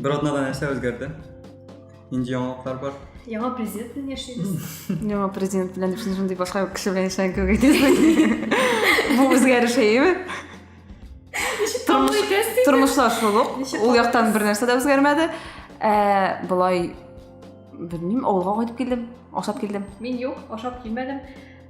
Bir odnada narsa o'zgardi. Endi yangiliklar bor. Яңа президент белән яшибез. Яңа президент белән дип сүз шундый башка кеше белән яшәгән кебек әйтәсең. Бу үзгәреш әйеме? Тормышлар шул ук. Ул яктан бер нәрсә дә үзгәрмәде. Ә болай белмим, авылга кайтып килдем, ашап килдем. Мин юк, ашап килмәдем.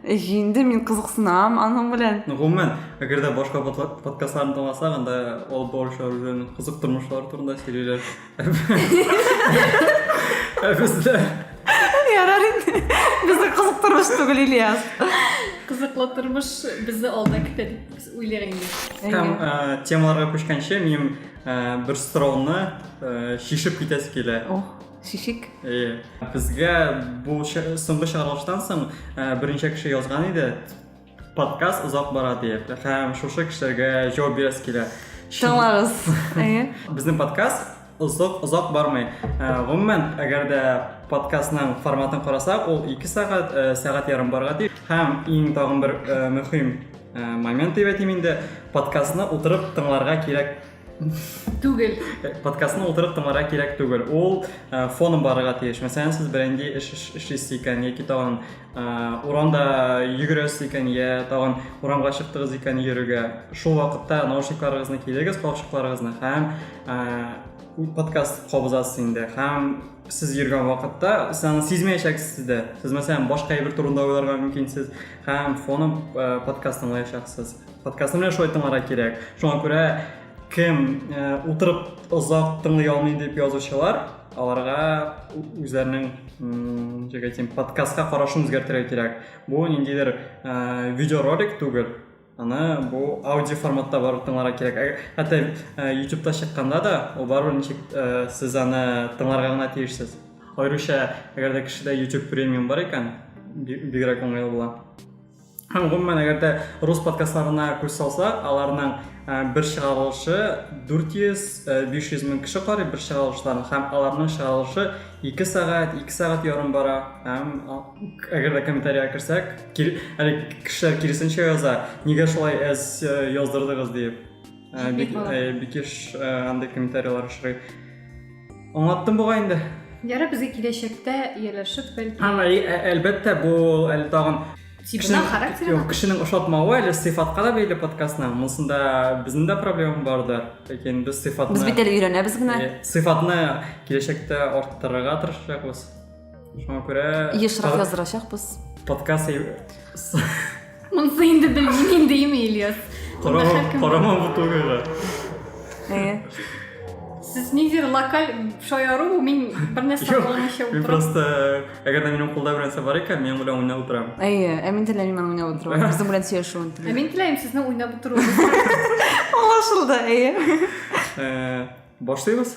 Җинде, мин кызыксынам аның белән. Ну, гомумән, әгәр дә башка подкастларын тыңласаң, анда алып баручылар үзен кызык тормышлары турында сөйлиләр. Ә бездә Ярар инде. Бездә кызык тормыш түгел, Ильяс. Кызыклы тормыш безне алда көтә дип уйлар инде. Һәм ә, темаларга күчкәнче, минем ә, бер сорауны ә, чишеп китәсе килә. Ох. Шишик? Әйе. Безгә бу соңгы чыгарылыштан соң э, берничә кеше язган иде. Подкаст озак бара диеп. Һәм шушы кешеләргә җавап бирәсе килә. Тыңлагыз. Әйе. Безнең подкаст озак озак бармый. Э, гомумән, әгәр дә подкастның форматын карасак, ул 2 сәгать, э, сәгать ярым барга тиеш. Һәм иң тагын бер мөһим момент дип әйтим инде, подкастны утырып тыңларга кирәк түгел подкастны утырып тыңларга кирәк түгел ул э, фоном барырга тиеш мәсәлән сез бренди эш эшлисез икән яки тагын э, урамда йөгерәсез икән я тагын урамга чыктыгыз икән йөрергә шул вакытта наушникларыгызны килегез калфчыкларыгызны һәм э, подкаст кабызасыз инде һәм сез йөргән вакытта сез аны сизмәячәксез дә сез мәсәлән башка әйбер турында уйларга мөмкинсез һәм фоном подкаст тыңлаячаксыз Подкастны менә шулай тыңларга кирәк. Шуңа күрә кем э, утырып озак тыңлый алмый дип язучылар, аларга үзләренең җәгә тим подкастка карашын үзгәртергә кирәк. Бу ниндидер э, видеоролик түгел. Аны бу аудио форматта барып тыңларга кирәк. Ә, хәтта э, YouTube-та чыкканда да, ул барыбер ничек э, сез аны тыңларга гына тиешсез. Аеруча, әгәр дә кешедә YouTube премиум бар икән, бигрәк уңайлы була. Һәм гомумән, әгәр дә рус подкастларына күз салсак, аларның э, бер чыгарылышы 400-500 э, мең кеше карый бер чыгарылышларын, һәм аларның чыгарылышы 2 сәгать, 2 сәгать ярым бара. Һәм әгәр дә комментариягә керсәк, әле кешеләр киресенчә яза, нигә шулай әз э, яздырдыгыз дип. Ә, бик, ә, бик еш ә, андый комментарийлар очрый. Аңлаттым бугай инде. Ярар, безгә киләчәктә ияләшеп бәлки. Һәм әлбәттә бу әле тагын тибына характеры юк кешенең ошатмавы әле сыйфатка да бәйле подкастның монысында безнең дә проблема бардыр ләкин без сыйфатны без бит әле өйрәнәбез генә сыйфатны киләчәктә арттырырга тырышачакбыз Шуңа күрә... Ешрак яздырачакбыз. Подкаст... Монсы инде белмим дейме, Ильяс? Карамам бу түгеле. Әйе. Сез ниндидер локаль шаяру, мин бер нәрсә аңламыйча утырам. Мин просто, әгәр дә минем кулда бер нәрсә бар икән, мин белән уйнап утырам. Әйе, ә мин теләмим аны уйнап утыру. Безнең белән сөйләшүен телим. Ә мин теләмим сезне уйнап утыру. Аңлашылды, әйе. Э, башлыйбыз?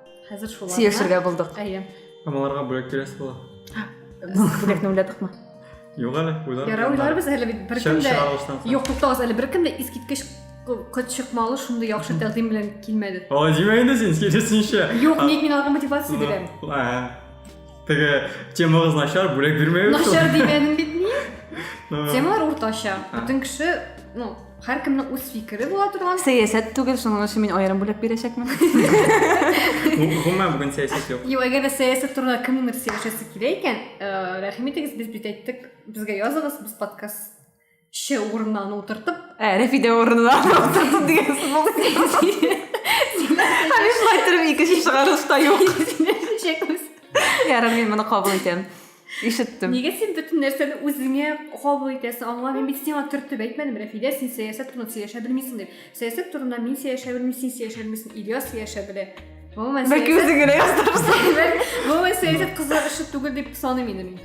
хәзер шуларны сөйләшергә булдык әйе Амаларга бүләк бирәсе була. бүләкне уйладыкмы Юк әле, уйлар. ярар уйларбыз әле бит беркем дә Чыгарылыштан соң. юк туктагыз әле беркем дә искиткеч ку- кот чыкмалы шундый яхшы тәкъдим белән килмәде Алай димә инде син, киресенчә. юк А- ник мин аларга мотивация бирәм Ну, а, Теге темагыз начар, бүләк бирмәгез. начар дигәнем бит мин Ну, темалар уртача А. бөтен кеше ну Һәркемнең үз фикере була торган. Сәясәт түгел, шуның өчен мин аерым бүләк бирәчәкмен. Гомумән бүген сәясәт юк. Юк, әгәр дә сәясәт турында кемнеңдер сөйләшәсе килә икән, э, рәхим итегез, без бит әйттек, безгә языгыз, без подкаст ше урынына аны утыртып. Ә, Рәфидә урынына утыртып дигән сүз булды. Һәм шулай торып икенче чыгарылышта юк. Сөйләшәчәкбез. Ярар, мин моны кабул итәм. Ишеттем. Нигә син бөтен нәрсәне үзеңә кабул итәсең? Аңламыйм. Мин сиңа төртеп әйтмәдем, Рәфидә, син сәясәт турында сөйләшә белмисең дип. Сәясәт турында мин сөйләшә белмим, син сөйләшә белмисең, Ильяс сөйләшә белә. Гомумән, Бәлки сәясәт- үзең генә яздырырсың. Гомумән, сәясәт кызлар эше түгел дип саныйм инде мин.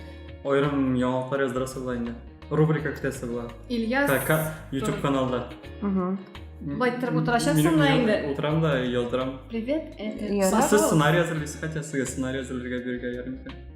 Аерым яңалыклар яздырасы була инде. Рубрика көтәсе була. Ильяс Ка- ка- YouTube каналда. Мгм. Былай торып утырачаксың Мин- да мин инде. Утырам да яздырам. Привет, это Ярар. Сез сценарий әзерлисез, хотя сезгә сценарий әзерләргә бирергә ярый микән?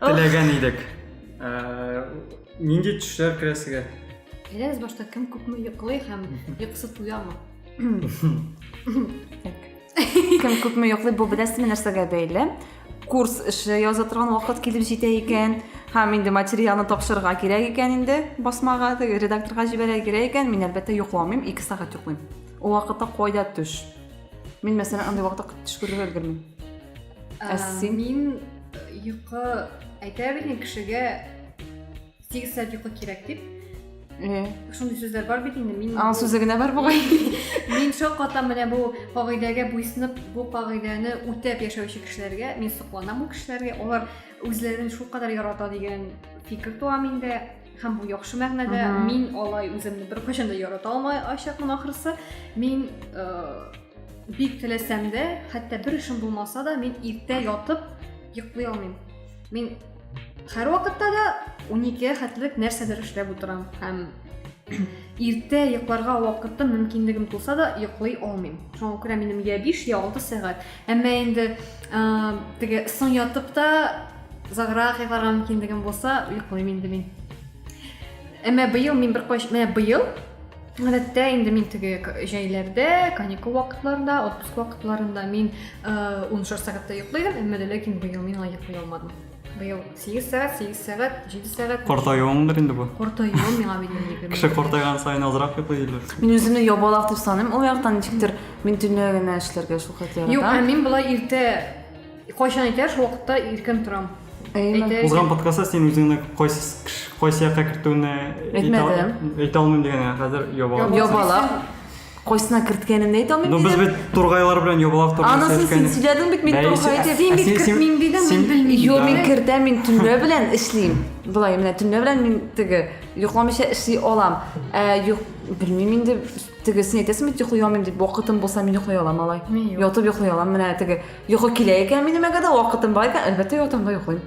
Теләгән идек. Ә, Нинди төшләр керә сезгә? Әйдәгез башта кем күпме йоклый һәм йокысы туямы? Кем күпме йоклый, бу беләсезме нәрсәгә бәйле? Курс эше яза торган вакыт килеп җитә икән, һәм инде материалны тапшырырга кирәк икән инде, басмага, теге редакторга җибәрергә кирәк икән, мин әлбәттә йокламыйм, 2 сәгать йоклыйм. Ул вакытта кайда төш? Мин мәсәлән андый вакытта төш күрергә өлгермим. Ә син? Мин йокы әйтә бит кешегә 8 сәгать йокы кирәк дип. Э. Шундый сүзләр бар бит инде. Мин Аң сүзе генә бар бугай. Мин шул катам менә бу кагыйдәгә буйсынып, бу кагыйдәне үтәп яшәүче кешеләргә мин сокланам бу кешеләргә. Алар үзләрен шул кадәр ярата дигән фикер туа миндә. һәм бу яхшы мәгънәдә мин алай үземне беркайчан да ярата алмаячакмын ахрысы мин э, бик теләсәм дә хәтта бер эшем булмаса да мин иртә ятып йоклый алмыйм мин һәрвакытта да уникегә хәтлек нәрсәдер эшләп утырам һәм иртә йокларга вакытым мөмкинлегем туса да йоклый алмыйм шуңа күрә минем я биш я алты сәгать Әмма инде теге соң ятып та озаграк йокларга мөмкинлегем булса, йоклыйм инде мин. Әмма быел мин бер кайчан, менә быел Гадәттә инде мин теге җәйләрдә, каникул вакытларында, отпуск вакытларында мин 16 сәгатьтә йоклыйдым, әмма ләкин быел мин алай йоклый алмадым. Быел 8 сәгать, 8 сәгать, 7 сәгать. Картаюыңдыр инде бу. Картаюым миңа бит. Кеше картайган саен азрак йоклый диләр. Мин үземне ябалак дип саныйм. Ул яктан ничектер мин төнлә генә эшләргә шул хәтле яратам. Юк, ә мин болай иртә кайчан әйтә шул вакытта иркен торам. Узган подкастта син үзеңне кайсы кайсы якка кертүне әйтмәдем. Әйтә алмыйм дигән хәзер ябалак. Ябалак. Кайсына керткәнен дә әйтә алмыйм. Ну без бит тургайлар белән ябалак турында Анысын син сөйләдең бит, мин тургай дип. Син бит кертмим дидең, мин белмим. Юк, мин кертәм, мин төнлә белән эшлим. Болай менә төнлә белән мин теге йокламыйча эшли алам. Ә юк, белмим инде теге син әйтәсең бит йоклый алмыйм дип, вакытым булса мин йоклый алам алай. Ятып йоклый алам, менә теге йокы килә икән минем әгәр дә вакытым бар икән, әлбәттә ятам да йоклыйм.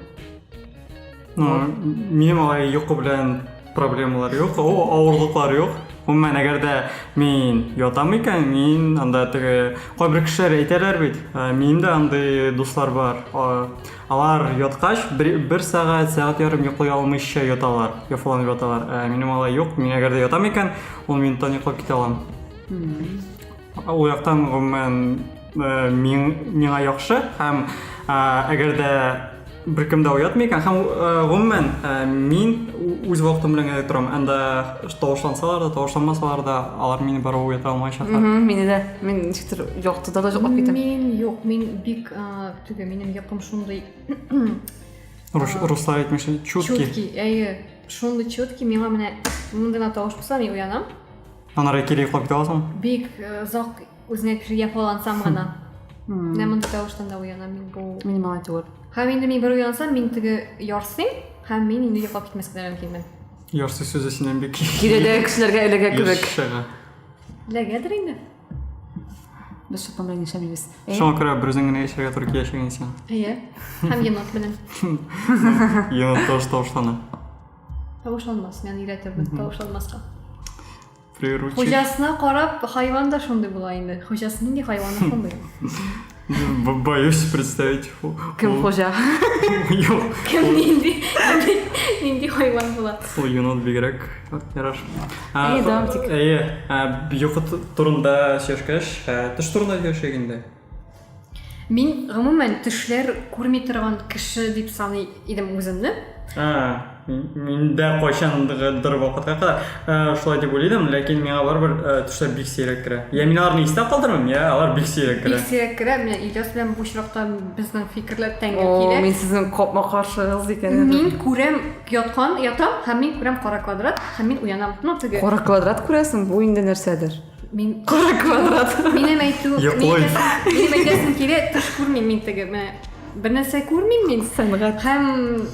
минем алай йокы белән проблемалар юк авырлыклар юк гомумән әгәр дә мин ятам икән мин анда теге кайбер кешеләр әйтәләр бит минем дә андый дуслар бар алар яткач бер, бер сәгать сәгать ярым йоклый алмыйча яталар яфаланып яталар ә минем алай юк мин әгәр дә ятам икән ун минуттан йоклап китә алам Ул яктан гомумән э, миңа яхшы һәм э, әгәр дә беркем дә уятмый икән һәм э, гомумән мин үз вакытым белән генә торам анда тавышлансалар да тавышланмасалар да алар мине барыбер уята алмаячаклар мине дә мин ничектер яктыда да жоклап китәм мин юк мин бик теге минем якым шундый руслар әйтмешли чуткий чуткий әйе шундый чуткий миңа менә мондый гына тавыш булса мин уянам Анары кире йоклап китә аласың? Бик озак үзеңә кеше яфалансам гына. Менә мондый тавыштан да уянам мин бу. Минимал түгел. Һәм инде мин бер уянсам, мин теге ярсыйм, һәм мин инде йоклап китмәскә дә мөмкинмен. Ярсый сүзе синнән бик Киредәге кешеләргә эләгә кебек. Еш чыга. Эләгәдер инде. Без шуның белән яшәмибез. Шуңа күрә бер үзең генә яшәргә туры килә шуган сиңа. Әйе. Һәм енот белән. Енот тавыш тавышлана. Тавышланмас, мен өйрәтермен тавышланмаска. Приручить. Хуҗасына карап, хайван да шундый була инде. Хуҗасы нинди хайван шундый. Боюсь представить. Кем хуҗа? Юк. Кем нинди? Нинди хайван була? Ул енот бигрәк яраш. Әйе, дам тик. Әйе, юхот турында сөйләшкәч, төш турында сөйләшәк инде. Мин гомумән төшләр күрми торган кеше дип саный идем үземне. А, мин дә кайчандыр вакытка кадәр э, шулай дип уйлыйдым, ләкин миңа барыбер э, төшләр бик сирәк керә. Я мин аларны истә калдырмыйм, я алар бик сирәк керә. Бик сирәк керә. Менә Ильяс белән бу очракта безнең фикерләр тәңгә килә. Мин сезнең капма каршыгыз икән. Мин күрәм яткан, ятам һәм мин күрәм кара квадрат һәм мин уянам. Ну, теге. Кара квадрат күрәсең, бу инде нәрсәдер. Мин Кара квадрат. Минем әйтү, Йоклый. минем әйтәсем килә, төш күрмим мин теге, мә, бер нәрсә күрмим мин. Сәнгать. Һәм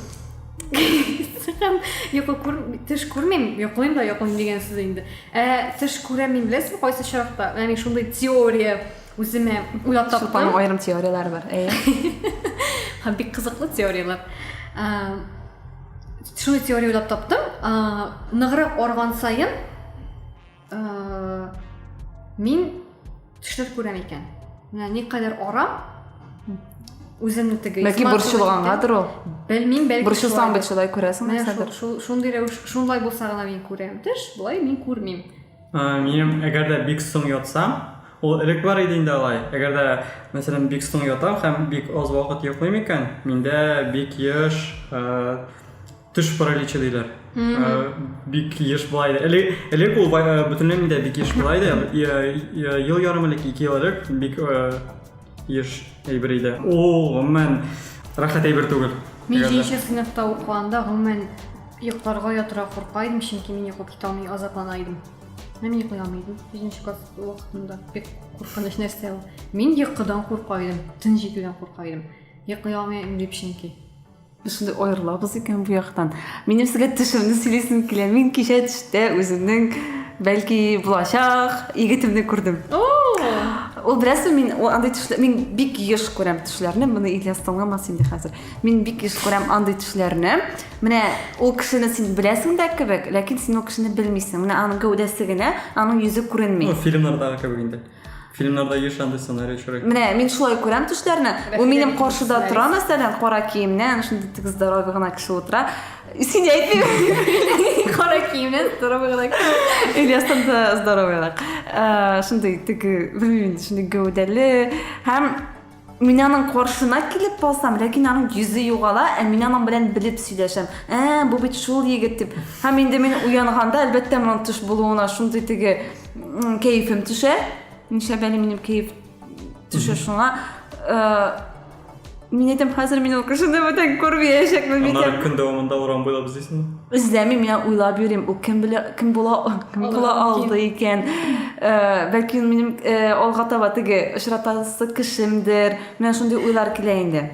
һәм йокы күр, төш күрмим, йоклыйм да йоклыйм дигән сүз инде. Ә төш күрәм мин беләсең кайсы чакта? Ягъни шундый теория үземә уйлап таптым. Сулпаның аерым теорияләре бар. Әйе. Һәм бик кызыклы теорияләр. Ә, Шундый теория уйлап таптым. Ә, Ныграк арган саен мин төшләр күрәм икән менә никадәр ара үземне теге бәлки борчылгангадыр ул белмим бәлки борчылсаң бит шулай күрәсең нәрсәдер шундый рәвеш шундай булса гына мин күрәм төш болай мин күрмим минем әгәр дә бик соң ятсам ул элек бар иде инде алай әгәр дә мәсәлән бик соң ятам һәм бик аз вакыт йоклыйм икән миндә бик еш Төш параличы диләр. Бик еш була иде. Элек элек ул бөтенләй миндә бик еш була иде. Ел ярым элек, ике ел элек бик еш әйбер иде. Ул гомумән рәхәт әйбер түгел. Мин җиденче сыйныфта укыганда гомумән йокларга ятырга курка идем, чөнки мин йоклап китә алмый азаплана идем. Мин йоклый алмый идем. Җиденче класс вакытында бик куркыныч нәрсә ул. Мин йокыдан курка идем, тын җитүдән курка идем. Йоклый алмый идем дип чөнки. Без шундый аерылабыз икән бу яктан. Минем сезгә төшемне сөйлисем килә. Мин кичә төштә үземнең бәлки булачак егетемне күрдем. Ул берәрсе мин андый төшләр, мин бик еш күрәм төшләрне, моны Ильяс тыңламас инде хәзер. Мин бик еш күрәм андый төшләрне. Менә ул кешене син беләсең дә кебек, ләкин син ул кешене белмисең. Менә аның гәүдәсе генә, аның йөзе күренми. Ну, фильмнардагы кебек инде. Фильмнарда еш андый сценарий очрый. Менә мин шулай күрәм төшләрне. Ул минем каршыда тора, мәсәлән, кара киемнән, шундый тик здоровый гына кеше утыра. Син әйтмим. Кара киемнән здоровый гына кеше. Ильястан да здоровыйрак. Э, шундый теге, белмим, шундый гәүдәле һәм Мин аның каршына килеп басам, ләкин аның йөзе югала, ә мин аның белән белеп сөйләшәм. Ә, бу бит шул егет дип. Һәм инде мин уянганда, әлбәттә, моның төш булуына шундый теге кәефем төшә. Ничә бәле минем кәеф төшә шуңа. Мин әйтәм, хәзер мин ул кешене бүтән күрмәячәкмен. Аннары көн дәвамында урам буйлап эзлисеңме? Үзләмим, я уйлап йөрим, ул кем белә, кем була, кем була алды икән. Э, бәлки ул минем э, алга таба теге очратасы кешемдер. Менә шундый уйлар килә инде.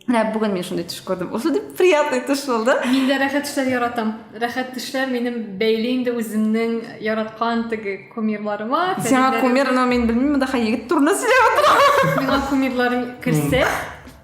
Менә бүген мин шундый төш күрдем. Ул шундый приятный төш булды. Мин дә рәхәт төшләр яратам. Рәхәт төшләр минем бәйле инде үземнең яраткан теге кумирларыма. Сиңа кумир, но мин белмим, монда егет турында сөйләп утырам. Миңа кумирларым керсә,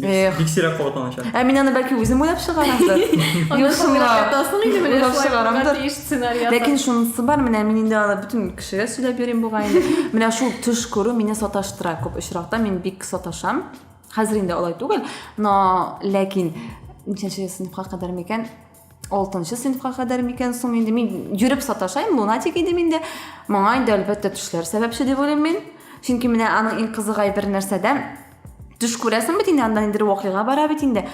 Эх. Бик сирәк кабатланачак. Ә мин аны бәлки үзем уйлап чыгарамдыр. Уйлап чыгарамдыр. Ләкин шунысы бар, менә мин инде аны бөтен кешегә сөйләп йөрим бугай инде. Менә шул төш күрү мине саташтыра күп очракта, мин бик саташам. Хәзер инде алай түгел, но ләкин ничәнче сыйныфка кадәр микән? Алтынчы сыйныфка кадәр микән соң инде мин йөреп саташайм, лунатик идем инде. Моңа инде әлбәттә төшләр сәбәпче дип уйлыйм мин. Чөнки менә аның иң кызыгай бер нәрсәдә төш күрәсең бит инде, аннан инде вакыйга бара бит инде.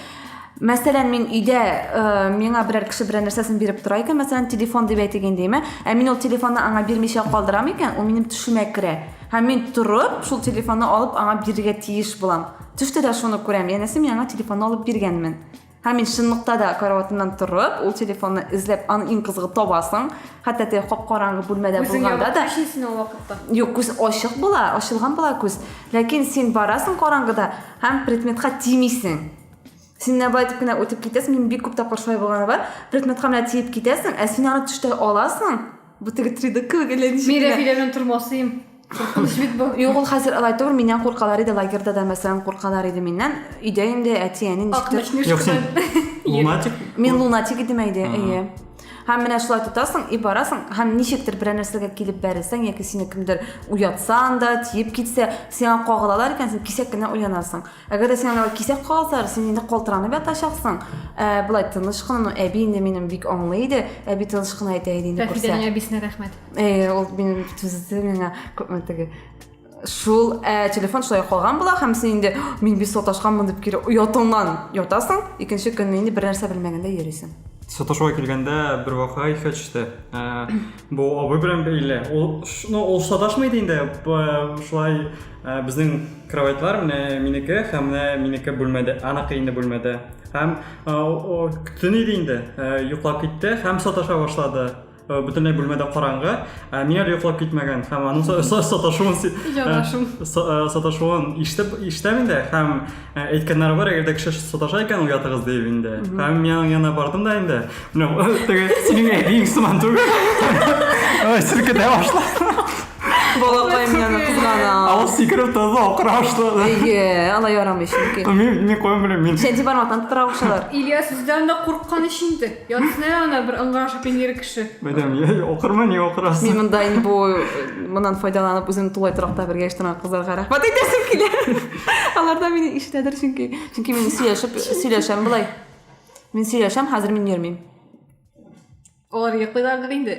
Мәсәлән, мин өйдә э, миңа берәр кеше берәр нәрсәсен биреп тора икән, мәсәлән, телефон дип әйтик инде, әмма ә мин ул телефонны аңа бирмичә калдырам икән, ул минем төшемә керә. Һәм мин торып, шул телефонны алып аңа бирергә тиеш булам. Төштә дә шуны күрәм, янәсе мин аңа телефонны алып биргәнмен. Һәм мин чынлыкта да караватымнан торып, ул телефонны эзләп, аны иң кызыгы табасың. Хәтта теге кап-караңгы бүлмәдә булганда да. Күзең ул вакытта. Юк, күз ачык була, ачылган була күз. Ләкин син барасың караңгыда һәм предметка тимисең. Син менә байтып кенә үтеп китәсең, мин бик күп тапкыр шулай булганы бар. Предметка менә тиеп китәсең, ә син аны төштә аласың. Бу теге 3D кебек әллә ничек. Мин Рәфилә белән тормасыйм. Куркыныч бит бу. Юк, ул хәзер алай түгел, миннән куркалар иде, лагерьда да мәсәлән куркалар иде миннән. Өйдә инде әти, әни ничектер. Юк, син лунатик. Мин лунатик идем әйдә, әйе. Һәм менә шулай тотасың и барасың, һәм ничектер берәр нәрсәгә килеп бәрелсәң яки сине кемдер уятсан да, тиеп китсә, сиңа кагылалар икән, син кисәк кенә уянасың. Әгәр дә сиңа кисәк кагылсалар, син инде калтыранып ятачаксың. Ә, болай тыныч кына, ну, әби инде минем бик аңлый иде, әби тыныч кына әйтә иде инде күрсә. Рәфидәнең әбисенә рәхмәт. Э, ул минем түзде миңа теге шул ә, телефон шулай калган була һәм син инде мин бит саташканмын дип кире оятыңнан ятасың икенче көнне инде бер нәрсә белмәгәндә йөрисең саташуга килгәндә бер вакыйга иҫкә төштө ә, бу абый белән бәйле ул ну ул саташмый иде инде шулай ә, безнең кроватьлар менә минеке һәм менә минеке бүлмәдә аныкы инде бүлмәдә һәм төн иде инде йоклап китте һәм саташа башлады Э, бөтенләй бүлмәдә караңгы э, мин әле йоклап китмәгән һәм аның саташуын э, саташуын ишетеп ишетәм инде һәм әйткәннәре бар әгәр дә кеше саташа икән уятыгыз дип инде һәм мин аның янына бардым да инде менә теге синең әбиең сыман түгел селкетә башлады балакаем яны кызгана ал сикереп торды акыра башлады әйе алай ярамый чөнки мин мин куям белмим мин сәнти бармактан тотыра башлар ильяс үзләрен дә курыккан ич инде Ярсынай ана бер ыңгырашып пенер кеше. Мәдәм, я окырма ни окырасы. Мин монда инде бу моннан файдаланып үзен тулай торакта бергә яшьтән кызларга рәхмәт әйтәсем килә. Аларда мине ишетәдер чөнки. Чөнки мин сөйләшеп сөйләшәм болай. Мин сөйләшәм, хәзер мин йөрмим. Алар йоклыйлардыр инде.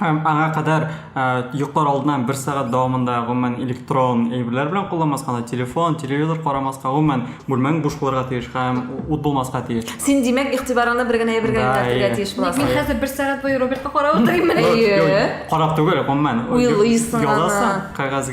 Һәм аңа кадәр йоклар алдыннан бер сәгать дәвамында гомумән электрон әйберләр белән кулланмаска, аны телефон, телевизор карамаска, гомумән бүлмәң буш булырга тиеш һәм ут булмаска тиеш. Син, димәк, игътибарыңны бер генә әйбергә юнәлтергә тиеш буласың. Мин хәзер бер сәгать буе Робертка карап утырыйммыни? Әйе. Карап түгел, гомумән. Уйлыйсың аны. Язасың кәгазь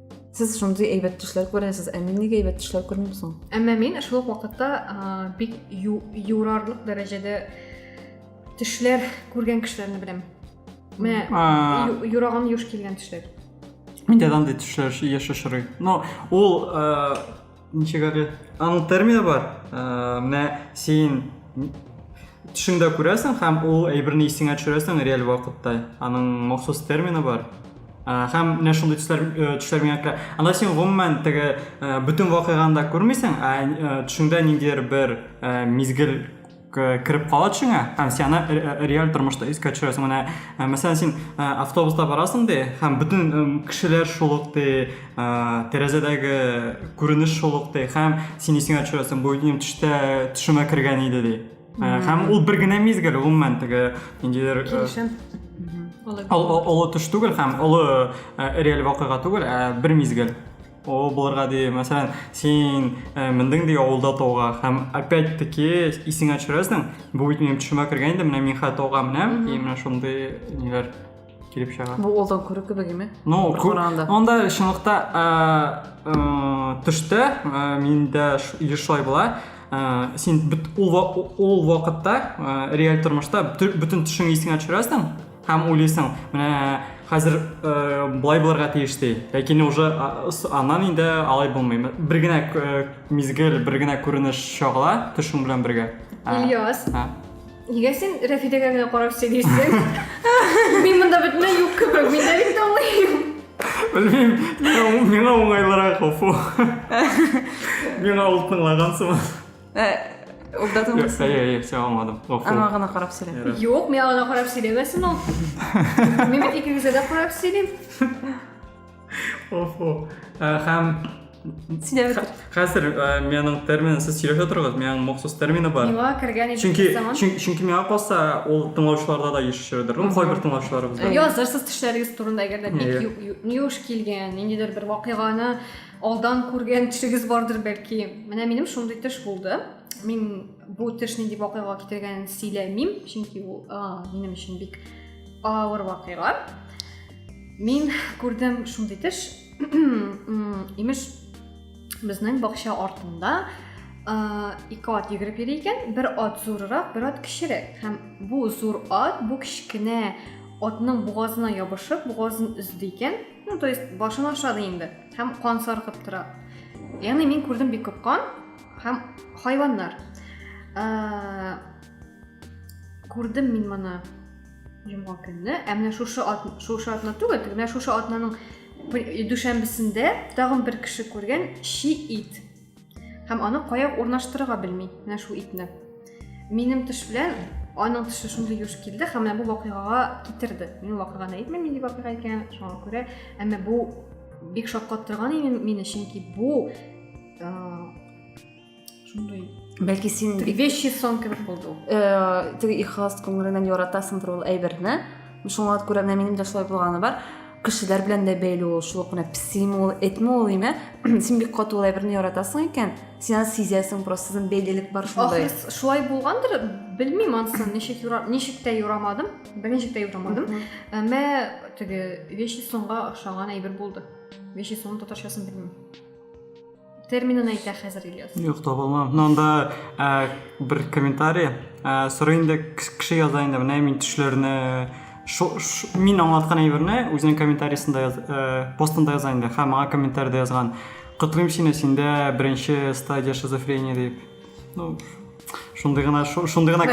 сез шундый әйбәт төшләр күрәсез ә мин нигә әйбәт төшләр күрмим соң әмма мин шул ук вакытта бик юрарлык дәрәҗәдә төшләр күргән кешеләрне беләм менә юраган юш килгән төшләр миндә андай төшләр еш очрый но ул ничек әле аның термины бар ә, менә син төшеңдә күрәсең һәм ул әйберне исеңә төшерәсең реаль вакытта аның махсус термины бар ә, һәм менә шундый төсләр э, төшләр миңа керә анда син гомумән теге э, бөтен вакыйганы да күрмисең ә э, төшеңдә ниндидер бер мизгел кіріп кала төшеңә һәм сені реаль тормышта искә төшерәсең менә мәсәлән син автобуста барасың де һәм бөтен кешеләр шул ук де тәрәзәдәге күренеш шул ук де һәм син исеңә төшерәсең бу минем төштә төшемә кергән иде ди һәм ул бер генә мизгел гомумән теге ниндидер килешәм олы төш түгел һәм олы реаль вакыйга түгел ә бер мизгел О, булырга ди, мәсәлән, син э, мендең ди авылда тауга һәм опять-таки исеңә төшерәсең, бу бит минем төшемә кергән инде, менә мин хәтта тауга менәм, и менә шундый ниләр килеп чыга. Бу алдан күрү кебек име? Ну, Бер күп- караганда. Онда чынлыкта ә, ә, төштә ә, миндә ш- или шулай була. Ә, син бит ул ва- ул вакытта ә, реаль тормышта бөтен бөтен төшеңне исеңә төшерәсең. һәм уйлыйсың менә хәзер ә, болай булырга тиеш ди ләкин уже аннан инде алай булмый бер генә мизгел бер генә күренеш чагыла төшең белән бергә ильяс нигә сен рәфидәгә генә карап сөйлисең мин монда бөтенләй юк кебек мин дә бит аңлыйм белмим миңа уңайлырак гафу миңа ул тыңлаган сыман Ә, ул да тыңлыйсы. Әйе, әйе, все аңладым. Гафу. Аңа гына карап сөйлә. Юк, миңа гына карап сөйләмәсен ул. Мин бит икегезгә дә карап сөйлим. Гафу. Ә, Һәм Сөйләп хә- бетер. хәзер ә, менің термин сез сөйләшә торыгыз, менің махсус термины бар. Миңа кергән иде Чөнки заман. чөн- чөнки миңа калса, ул тыңлаучыларда да еш очрыйдыр. Ну, кайбер тыңлаучыларыбызда. Язырсыз төшләрегез турында әгәр дә бик Иә. ю- ю- юш килгән, ниндидер бер вакыйганы Алдан күргән төшегез бардыр бәлки. Менә минем шундый төш булды. Мин бу төш нинди вакыйга китергәнен сөйләмим, чөнки ул минем өчен бик авыр вакыйга. Мин күрдем шундый төш. Имеш, безнең бакча артында ике ат йөгереп йөри икән, бер ат зурырак, бер ат кечерәк. Һәм бу зур ат бу кечкенә атның бугазына ябышып, бугазын өзде икән. Ну, то есть башын ашады инде һәм кан саркып тора. Ягъни мин күрдем бик күп кан һәм хайваннар. Ә, күрдем мин моны йомга көнне. Ә менә шушы ат, шушы атна түгел, тик менә шушы атнаның дүшәмбесендә тагын бер кеше күргән чи ит. Һәм аны кая урнаштырырга белми, менә шул итне. Минем төш белән аның төше шундый юш килде һәм менә бу вакыйгага китерде. Мин вакыйганы әйтмим, нинди вакыйга икәнен, шуңа күрә, әмма бу бик шаккаттырган иде мине, чөнки бу шундый бәлки син вещи сон кебек булды ул. Э, теге ихлас күңеленнән яратасыңдыр ул әйберне. шуңа күрә менә минем дә шулай булганы бар кешеләр белән дә бәйле ул шул ук менә песими ул этми ул име син бик каты улай берни яратасың икән син аны сизәсең просто сезнең бәйлелек бар шундай ахрысы шулай булгандыр белмим ансын ничек юра ничек тә юрамадым берничек тә юрамадым әмма теге вещи сонга охшаган әйбер булды вещи сон татарчасын белмим терминын әйтә хәзер ильяс юк таба алмам но анда ә, бер комментарий ә, сорый инде кеше яза инде менә мин төшләрне мин аңлаткан әйберне үзенең комментариясендә яз, ә, постында яза инде һәм мага комментариядә язган котлыйм сине синдә беренче стадия шизофрения дип ну шундый гына шундый гына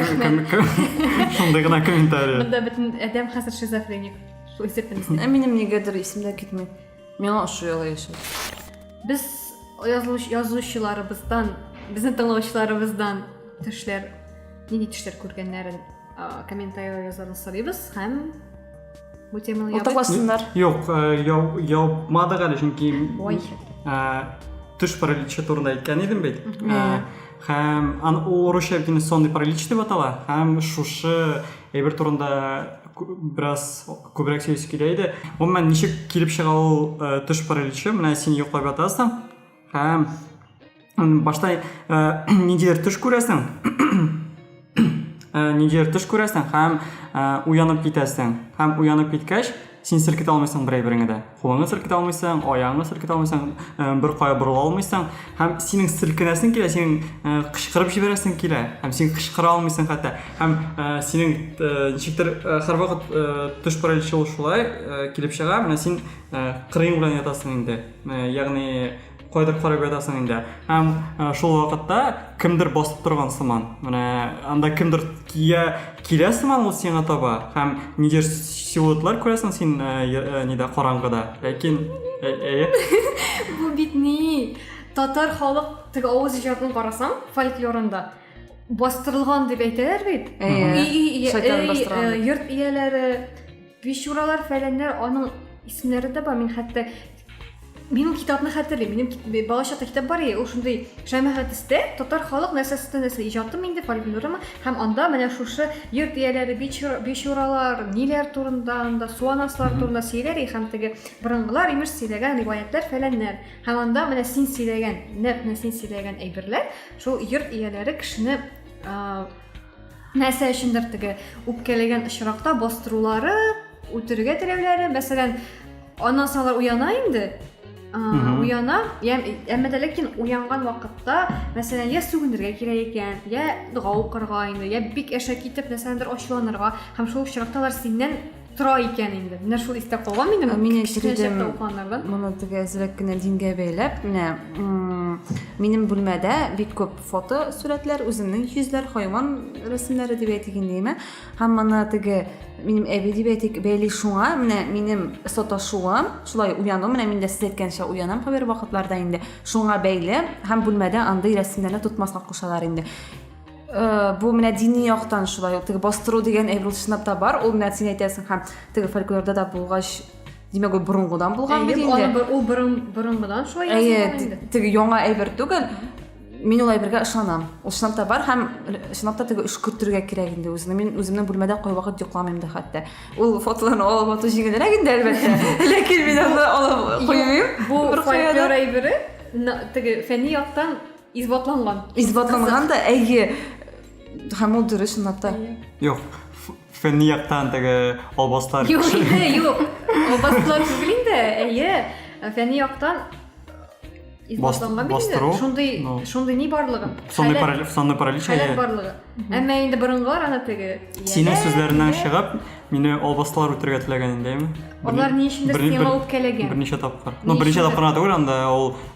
шундый гына комментарий монда бөтен адәм хәзер шизофреник шул исәптән ә минем нигәдер исемдә китми Миңа ошый алай яшәү. Без язылыш язучыларыбыздан, безнең тыңлаучыларыбыздан төшләр, нинди төшләр күргәннәрен комментарийлар язарны сорыйбыз һәм бу теманы ябыйк. Юк, ябмадык әле, чөнки Ой. төш параличы турында әйткән идем бит. Һәм аны ул урысча бит сонный паралич дип атала. Һәм шушы әйбер турында бераз күбрәк сөйлисе килә иде гомумән ничек килеп чыга ул э, төш параличы менә син йоклап ятасың һәм башта э, ниндидер төш күрәсең э, ниндидер төш күрәсең һәм уянып китәсең һәм уянып киткәч син селкетә алмыйсың бер әйбереңне дә кулыңны селкетә алмыйсың, аяңны селкетә алмыйсың, э, бер кая борыла алмыйсың һәм синең селкенәсең килә, синең э, кычкырып җибәрәсең килә һәм син кычкыра алмыйсың хәтта һәм э, синең ничектер һәрвакыт төш параличы ул шулай килеп чыга, менә син кырыең белән ятасың инде, ягъни Кайдыр карап ятасың инде. Һәм э, шул вакытта кемдер басып торган сыман. Менә анда кемдер кия килә сыман ул сиңа таба. Һәм нидер силуэтлар күрәсең син э, э, нидә караңгыда. Ләкин әйе. Бу бит ни? Татар халык теге авыз иҗатын карасаң, фольклорында бастырылган дип әйтәләр бит. Әйе. Йорт ияләре Бичуралар, фәләннәр, аның исемнәре дә бар. Мин хәтта минем китапны хәтерлим. Минем бала чакта китап бар иде, ул шундый Шәмәхәтистә татар халык нәрсәсен нәрсә иҗатым инде фольклорыма һәм анда менә шушы йорт ияләре бичуралар, ниләр турында анда суанаслар турында сөйләр и һәм теге борынгылар имеш сөйләгән риваятлар фәләннәр. Һәм анда менә син сөйләгән, нәкъ менә син сөйләгән әйберләр шул йорт ияләре кешене нәрсә өчендер теге үпкәләгән очракта бастырулары үтерергә теләүләре мәсәлән аннан соң алар уяна инде уяна әмма дә ләкин уянган вакытта мәсәлән я сүгенергә кирәк икән я дога укырга инде я бик әшәке итеп нәрсәдәндер ачуланырга һәм шул очракта алар синнән тора икән инде менә шул истә калган минем мин кечкенә чакта укыганнардан моны теге әзрәк кенә дингә бәйләп менә минем бүлмәдә бик күп фото сурәтләр үземнең йөзләр хайван рәсемнәре дип әйтик инде яме һәм моны теге минем әби дип әйтик бәйли шуңа менә минем саташуым шулай уяну менә мин дә сез әйткәнчә уянам кайбер вакытларда инде шуңа бәйле һәм бүлмәдә андый рәсемнәрне тотмаска кушалар инде Э, бу менә дини яктан шулай ул теге бастыру дигән әйбер чынлап та бар ул менә син әйтәсең һәм теге фольклорда да булгач димәк ул борынгыдан булган бит инде ул борынгыдан шулай әйе теге яңа әйбер түгел мин ул әйбергә ышанам ул чынлап та бар һәм чынлап та теге өшкертергә кирәк инде үзеңне мин үземнең бүлмәдә кайвакыт йокламыйм да хәтта ул фотоларны алып ату җиңелрәк инде әлбәттә ләкин мин аны алып куймыйм бу фольклор әйбере теге фәнни яктан Исбатланган. Исбатланган да, әйе. Һәм ул дөрес ната. Юк, фәнни яктан теге албаслар. Юк, инде, юк. Албаслар түгел инде, әйе. Фәнни яктан исбатланган бит инде. Шундый, ну. шундый ни барлыгы? Сонный паралич, сонный паралич. Хәләл барлыгы. Әмма инде борынгылар аны теге. Синең сүзләреннән чыгып, мине албаслар үтергә теләгән индеме? Алар ни өчен дә сиңа үпкәләгән? Берничә тапкыр. Ну, берничә тапкыр түгел, анда ул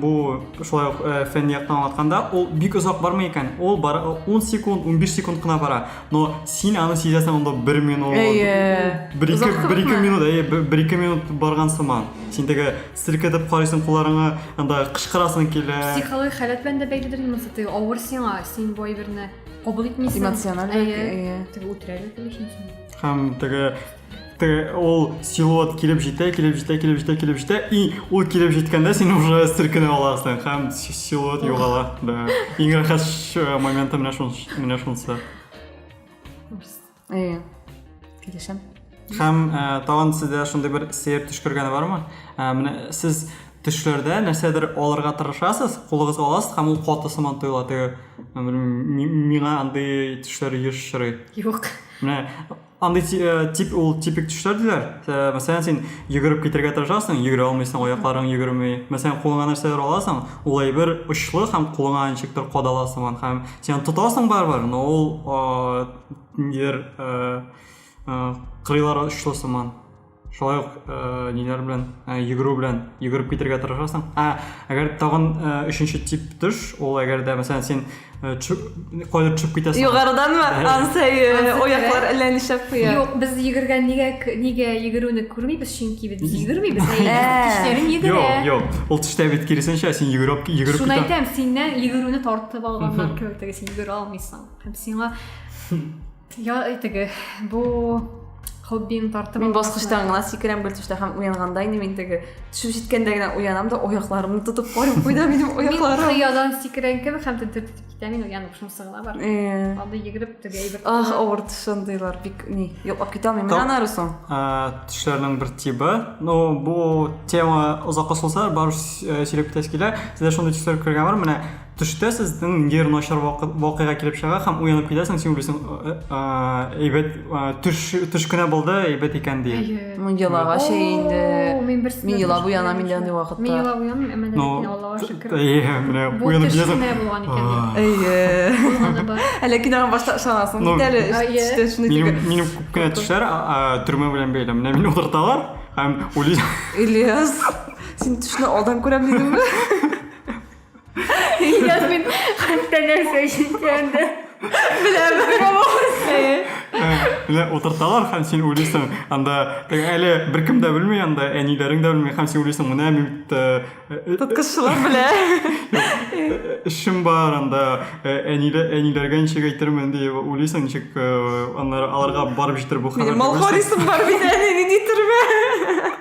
бу шулай ук э, фән яктан аңлатканда ул бик озак бармый икән ул бар 10 секунд 15 секунд кына бара но син аны сизәсең анда бер минут бер ике бер ике минут әйе бер ике минут барган сыман син теге селкетеп карыйсың кулларыңа анда кычкырасың килә психологик халәт белән дә бәйледер инде теге авыр сиңа син бу әйберне кабул итмисең эмоциональ әйе теге үтерәләр һәм теге ол силуэт килеп җитә килеп җитә килеп җитә килеп җитә и ул килеп җиткәндә син уже селкенә аласың һәм силуэт югала да иң рәхәт э, моменты менә шунысы менә шунысы э, килешәм һәм э, тагын сездә шундый бер сәер төшкергәне бармы менә сез төшләрдә нәрсәдер алырга тырышасыз кулыгызга аласыз һәм ул каты сыман тоела теге миңа андый төшләр еш очрый юк менә Андый э, тип ул типик төшләр диләр. Э, мәсәлән, син йөгереп китергә тырышасың, йөгерә алмыйсың, аякларың йөгерми. Мәсәлән, кулыңа нәрсәләр аласың, ул әйбер очлы һәм кулыңа ничектер кадала сыман һәм син тотасың барыбер, но ул э, нидер кырыйлары очлы сыман. шулай ук ә, ниләр белән ә, йөгерү белән йөгереп китергә тырышасың ә әгәр тагын ә, өченче тип төш ул әгәр дә мәсәлән сен кайда төшеп китәсең югарыданмы ансай аяклар әллә нишләп куя юк без йөгергән нигә нигә йөгерүне күрмибез чөнки без йөгермибез тешләрен йөгерә юк юк ул төштә бит киресенчә син йөгереп йөгереп шуны әйтәм синнән йөгерүне тартып алганнар кебек теге син йөгерә алмыйсың һәм сиңа Я теге бу хоббиң тартып мин баскычтан гына сикерәм бер төштә һәм уянганда инде мин теге төшеп җиткәндә генә уянам да аякларымны тотып карыйм куйда минем аякларым мин кыядан сикерән кебек һәм тентеп китә мин уянып шунысы гына бар анда йөгереп теге әйбер ах авыр шундыйлар бик ни йоклап китә алмыйм мин анары соң төшләрнең бер тибы ну бу тема озакка сузылса барыбер сөйләп китәсе килә сездә шундый төшләр күргән бар менә Төштә сезнең ниндидер начар вакыйга килеп чыга һәм уянып китәсең, син уйлыйсың, «Э, э, әйбәт э, төш төш кенә булды, әйбәт икән ди. Ну, елага шәй инде. О, мин берсен Мин елап дә уянам инде андый вакытта. Мин елап уянмыйм, әмма Ну, ләкин Аллага шөкер. Әйе, менә Бу уянып төш китәсең. кенә булган икән А. дип. Әйе. Булганы бар. Ә ләкин аңа башта ышанасың Ну, бит әле. әйе. Эчтән шуны Минем, дип. минем күп кенә төшләр а, а, төрмә белән бәйле. Менә мине утырталар һәм уйлыйсың, Ильяс, син төшне алдан күрәм дидеңме? Ильяс мин хәтта нәрсә ишеткәнде. Беләм. Менә утырталар һәм син уйлыйсың, анда әле беркем дә белми, анда әниләрең дә белми һәм син уйлыйсың, менә мин бит тоткысчылар белә. Эшем бар анда, әниләргә ничек әйтермен дип уйлыйсың, ничек аннары аларга барып җитер бу хәбәр. Малхорисым бар бит, әни, нидер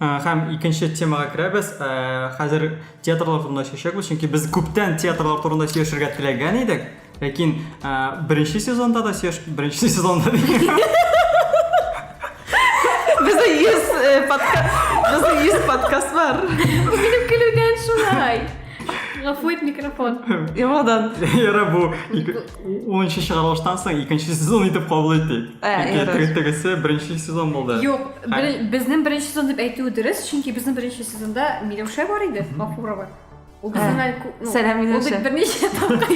Хәм икенче темага керәбез. Хәзер театрлар турында сөйләшәбез, чөнки без күптән театрлар турында сөйләшергә теләгән идек. Ләкин беренче сезонда да сөйләш, беренче сезонда Без йөз подкаст, без йөз подкаст бар. Минем көлүдән шулай. Гафу ит микрофон. Ямадан. Яра бу. онынчы чыгарылыштан соң икенче сезон итеп кабул итик чөнки тегесе беренче сезон булды юк безнең беренче сезон дип әйтүе дөрес чөнки безнең беренче сезонда миләүшә бар иде гафурова ул безнең сәлам миләүшә ул берничә тапкыр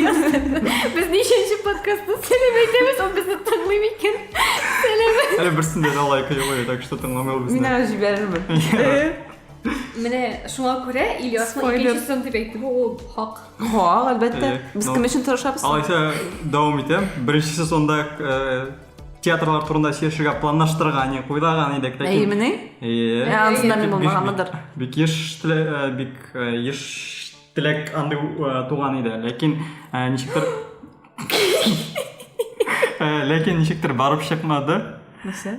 без ничәнче подкастта сәлам әйтәбез ул безне тыңлый микән сәлам әле берсен дә лайк юк так что тыңламый ул безне мин әле җибәрермен менә шуңа күрә ильясның икенче сезон дип әйтүе ул хак Ха, әлбәттә. Без кем өчен тырышабыз? Алайса, дәвам итәм. Беренче сезонда театрлар турында сөйләшергә планлаштырган, уйлаган идек. Ләкин... Әйемени? Әйе. Ә, ансында мин булмаганмыдыр. Бик еш э, бик э, еш теләк андый э, туган иде. Ләкин ничектер... Ләкин ничектер барып чыкмады. Нәрсә?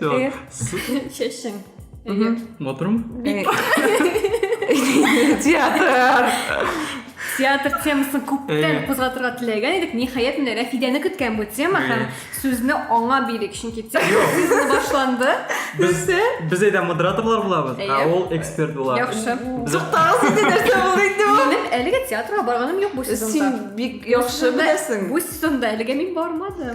Эх, чәчең. Матурмы? Театр. Театр темасын күптән кузгатырга теләгән идек. Ниһаять, менә Рәфидәне көткән бу тема һәм сүзне аңа бирик, чөнки тема башланды. Без без әйдә модераторлар булабыз, ә ул эксперт була. Яхшы. Туктагыз инде нәрсә булды инде бу? Минем әлегә театрга барганым юк бу сезонда. Син бик яхшы беләсең. Бу сезонда әлегә мин бармадым.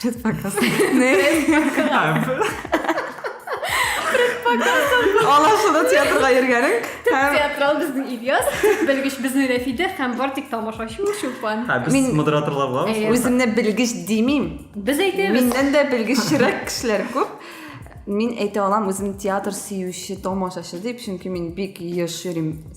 Предпоказка. Не. Предпоказка. Алашыда театрга йөргәнең. Театрал безнең Ильяс, белгеч безнең Рәфидә һәм бар тик тамашачы Чулпан. Һәм без Мин- модераторлар булабыз. Әйе. Үземне белгеч димим. Без әйтәбез. Миннән дә белгечрәк кешеләр күп. Мин әйтә алам үземне театр сөюче, тамашачы дип, чөнки мин бик еш йөрим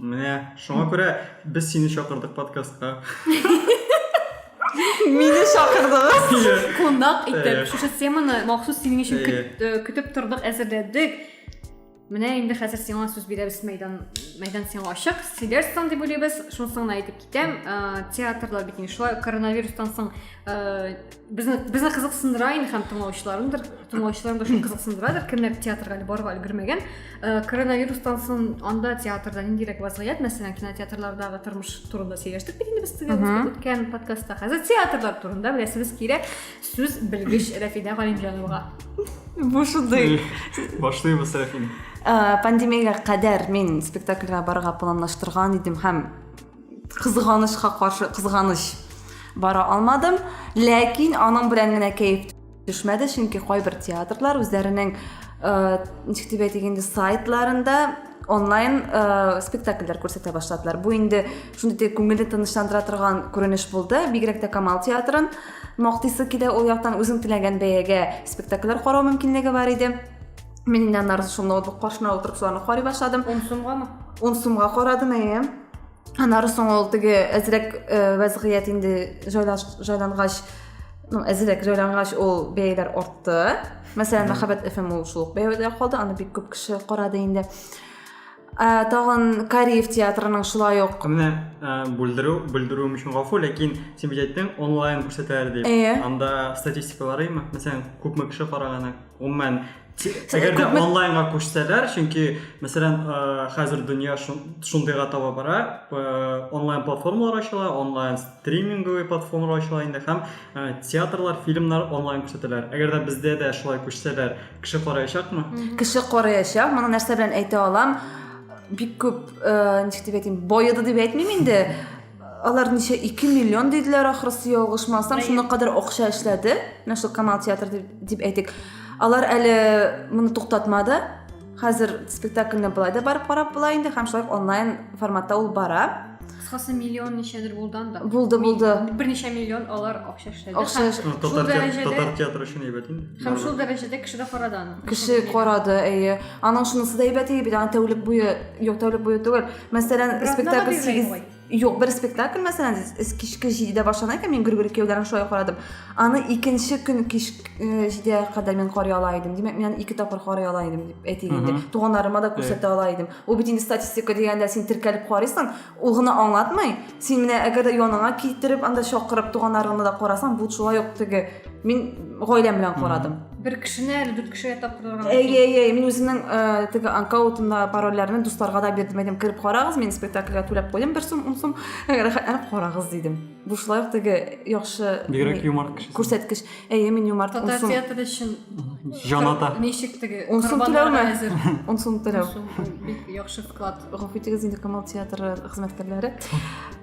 Менә шуңа күрә без сине чакырдык подкастка. Мине чакырдыгыз. Кунак итеп шушы теманы махсус синең өчен көтеп тордык, әзерләдек. Менә инде хәзер сиңа сүз бирәбез мәйдан мәйдан сиңа ачык. Сидерстан дип уйлыйбыз. Шунысын гына әйтеп китәм. Театрлар бит инде шулай коронавирустан соң Безне безне кызыксындыра инде һәм тыңлаучыларымдыр, тыңлаучыларым да шуны кызыксындырадыр, кемнәр театрга әле барырга өлгермәгән. Э, коронавирустан соң анда театрда ниндирәк вазгыять, мәсәлән, кинотеатрлардагы тормыш турында сөйләштек бит инде без теге үткән подкастта. Хәзер театрлар турында беләсебез килә. Сүз белгеч Рәфидә Галимҗановага. Бу шундый. Башлыйбыз, Рәфидә. Э, пандемиягә кадәр мин спектакльгә барырга планлаштырган идем һәм Кызганычка каршы, кызганыч бара алмадым, ләкин аның белән генә кәеф төшмәде, чөнки кайбер театрлар үзләренең э, ничек дип әйтик инде сайтларында онлайн э, спектакльләр күрсәтә башладылар. Бу инде шундый күңелне тынычландыра торган күренеш булды. Бигрәк тә Камал театрын мактыйсы килә, ул яктан үзең теләгән бәягә спектакльләр карау мөмкинлеге бар иде. Мин инде аннары шул ноутбук каршына утырып шуларны карый башладым. 10 сумгамы? 10 сумга карадым, әйе. Аннары соң ул теге әзрәк э, вәзгыять инде җайлангач, ну, әзрәк җайлангач ул бәяләр артты. Мәсәлән, мәхәббәт FM ул шул бәядә калды, аны бик күп кеше карады инде. ә, тагын кариев театрының шулай ук менә бүлдерү бүлдерүем өчен гафу ләкин син бит әйттең онлайн күрсәтәләр дип әйе анда статистикаларыймы мәсәлән күпме кеше караганы гомумән әгәр дә онлайнга күчсәләр чөнки мәсәлән хәзер дөнья шундыйга таба бара онлайн платформалар ачыла онлайн стриминговый платформалар ачыла инде һәм театрлар фильмнар онлайн күрсәтәләр әгәр дә бездә дә шулай күчсәләр Кеше караячакмы? Кеше караячак. Моны нәрсә белән әйтә алам? Бик күп, э, ничек дип әйтим, бояды дип әйтмим инде. Алар ничә 2 миллион диделәр ахрысы ялгышмасам, шуны кадәр акча эшләде. Менә шул Камал театры дип, дип әйтик. Алар әле моны туктатмады. Хәзер спектакльне былай да барып карап була инде һәм шулай онлайн форматта ул бара. кыскасы миллион ничәдер булды анда булды булды берничә миллион алар акча эшләде акча татар, дәрәҗәдә... татар театры өчен әйбәт инде һәм шул дәрәҗәдә кеше дә карады аны кеше карады әйе аның шунысы да әйбәт иде бит аны тәүлек буе юк тәүлек буе түгел мәсәлән спектакль сигез юк бер спектакль мәсәлән кичке җидедә башлана икән мин гөргүр кияүләрен шулай карадым аны икенче көн кич э, җидегә кадәр мин карый ала идем димәк мин аны ике тапкыр карый ала идем дип әйтик инде туганнарыма да күрсәтә ала идем ул бит инде статистика дигәндә син теркәлеп карыйсың ул гына аңлатмый син менә әгәр дә яныңа китереп анда чакырып туганнарыңны да карасаң бу шулай ук теге мин гаиләм белән карадым бер кешене әле дүрт кешегә тапкырырга әйе әйе мин үземнең э, теге анкаутымда парольләрне дусларга да бирдем әйдем кереп карагыз мин спектакльгә түләп куйдым бер сум ун сум рәхәтләнеп карагыз дидем бу шулай ук теге яхшы бигрәк юмор кеше күрсәткеч Әйе, мин юмарт. Татар Унсум- театры өчен Җан ата. кыр- ничек теге Унсум корбаннарга түләүме? әзер. Унсум түләү. Унсум бик яхшы вклад. Гафу итегез инде Камал театры хезмәткәрләре.